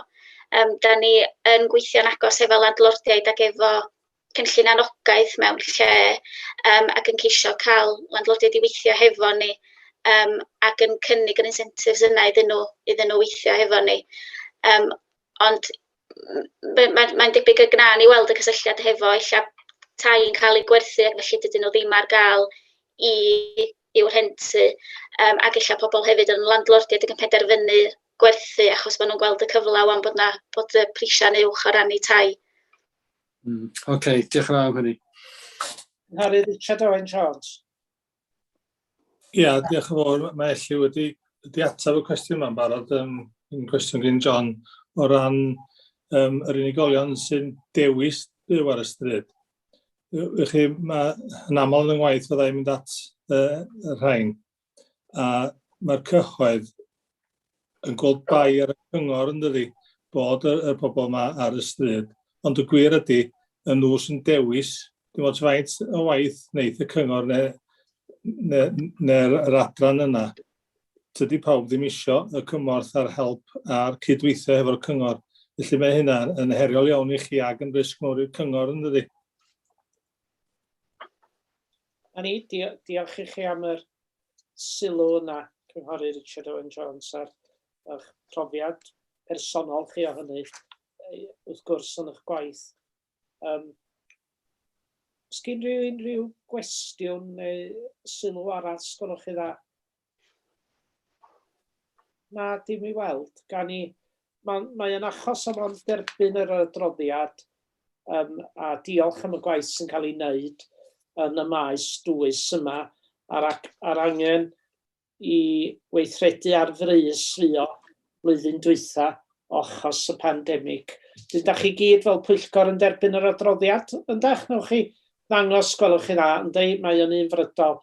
Yym dan ni yn gweithio'n agos efo landlordiaid ac efo cynllun anogaeth mewn lle yym ac yn ceisio cael landlordiaid i weithio hefo ni yym ac yn cynnig yr incentives yna iddyn nhw iddyn nhw weithio hefo ni yym. Ond m- m- mae'n debyg y gwnawn ni weld y cysylltiad hefo ella tai yn cael eu gwerthu ac felly dydyn nhw ddim ar gael i i'w rhentu, yym ac ella pobl hefyd yn landlordiaid ac yn penderfynu gwerthu achos maen nhw'n gweld y cyfle ŵan bod 'na bod y prisiau'n uwch o ran eu tai. Mm, ocê, diolch yn fawr am hynny. Cynghorydd Richard Owen Jones. Ia, diolch yn fawr. Mae Elli wedi wedi ateb y cwestiwn yma'n barod, um, yn cwestiwn gen John, o ran um, yr unigolion sy'n dewis byw ar y stryd. Ych chi, mae yn aml yn ngwaith fyddai mynd at uh, y rhain. A mae'r cyhoedd yn gweld bai ar y cyngor yn dydi bod y, y pobl yma ar y stryd. Ond y gwir ydy, y nhw sy'n dewis, dim ond faint o waith wneud y cyngor neu'r ne, ne, ne adran yna. Tydy pawb ddim isio y cymorth a'r help a'r cydweithio hefo'r cyngor. Felly mae hynna yn heriol iawn i chi ac yn risg mawr i'r cyngor yn dydi? A ni, diolch i chi am yr sylw yna, Cynghorydd Richard Owen Jones, a'r eich profiad personol chi o hynny, wrth gwrs, yn eich gwaith. Um, Sgyn rhyw unrhyw gwestiwn neu sylw arall sgwrwch chi dda? Na, dim i weld. Gan i, mae'n mae yn achos am o'n derbyn yr adroddiad um, a diolch am y gwaith sy'n cael ei wneud yn y maes dwys yma a'r, ar angen i weithredu ar frys fuo blwyddyn dwytha ochos y pandemig. Dyn da chi gyd fel pwyllgor yn derbyn yr adroddiad, yndach? Newch chi ddangos, gwelwch chi dda, ynddi, mae o'n un frydol.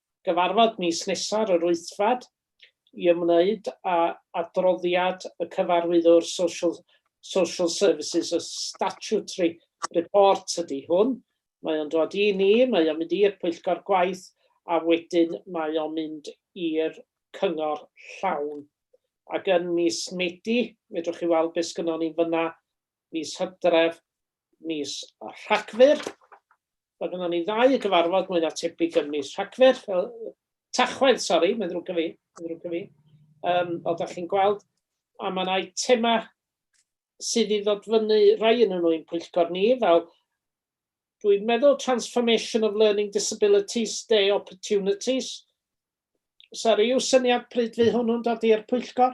gyfarfod mis nesa'r yr Wythfed i ymwneud â adroddiad y Cyfarwyddwr Social Social Services, y statutory report ydy hwn. Mae o'n dod i ni, mae o'n mynd i'r pwyllgor gwaith a wedyn mae o'n mynd i'r cyngor llawn. Ac yn mis Medi, fedrwch chi weld beth sgynnon ni fyna, mis Hydref, mis Rhagfyr. Mae gynnon ni ddau gyfarfod mwy na tebyg yn mis Rhagfyr, fel Tachwedd, sori, mae'n ddrwg gen fi, mae'n ddrwg gen fi. Um, o, da chi'n gweld, a mae yna eitema sydd i ddod fyny rai yn nhw'n pwyllgor ni, fel dwi'n meddwl Transformation of Learning Disabilities, Day Opportunities. Sori, yw syniad pryd fydd hwnnw'n dod i'r pwyllgor?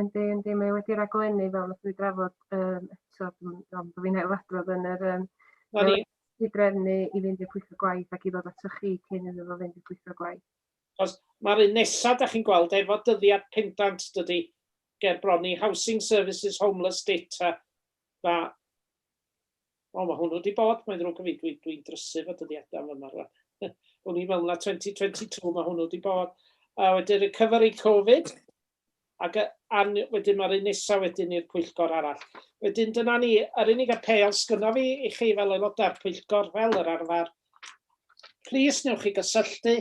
Yndi yndi mae o wedi raglennu fel nathon ni drafod yym eto dw'm yn siŵr bo' fi'n ail adrodd yn yr yym... Na ni. ...i drefnu i fynd i'r pwyllgor gwaith ac i ddod atoch chi cyn iddo fo fynd i'r pwyllgor gwaith. Achos ma'r un nesa 'dach chi'n gweld efo dyddiad pendant dydi? Ger bron i Housing Services Homeless Data ma' o ma' hwnnw 'di bod mae'n ddrwg gen fi dwi dwi'n drysu efo dyddiada yn fama rŵan. O'n i'n meddwl na 2022 ma' hwnnw 'di bod. A wedyn recovery Covid ac wedyn mae'r un nesaf wedyn i'r pwyllgor arall. Wedyn dyna ni, yr unig apêl sgynno fi i chi fel aelodau'r pwyllgor fel yr arfer, plis newch chi gysylltu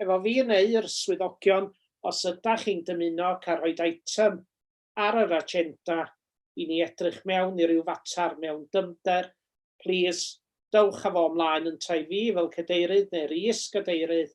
efo fi neu'r swyddogion os ydach chi'n dymuno cael rhoi item ar yr agenda i ni edrych mewn i ryw fater mewn dyfnder, plis dowch â fo ymlaen yntau fi fel cadeirydd neu'r is-gadeirydd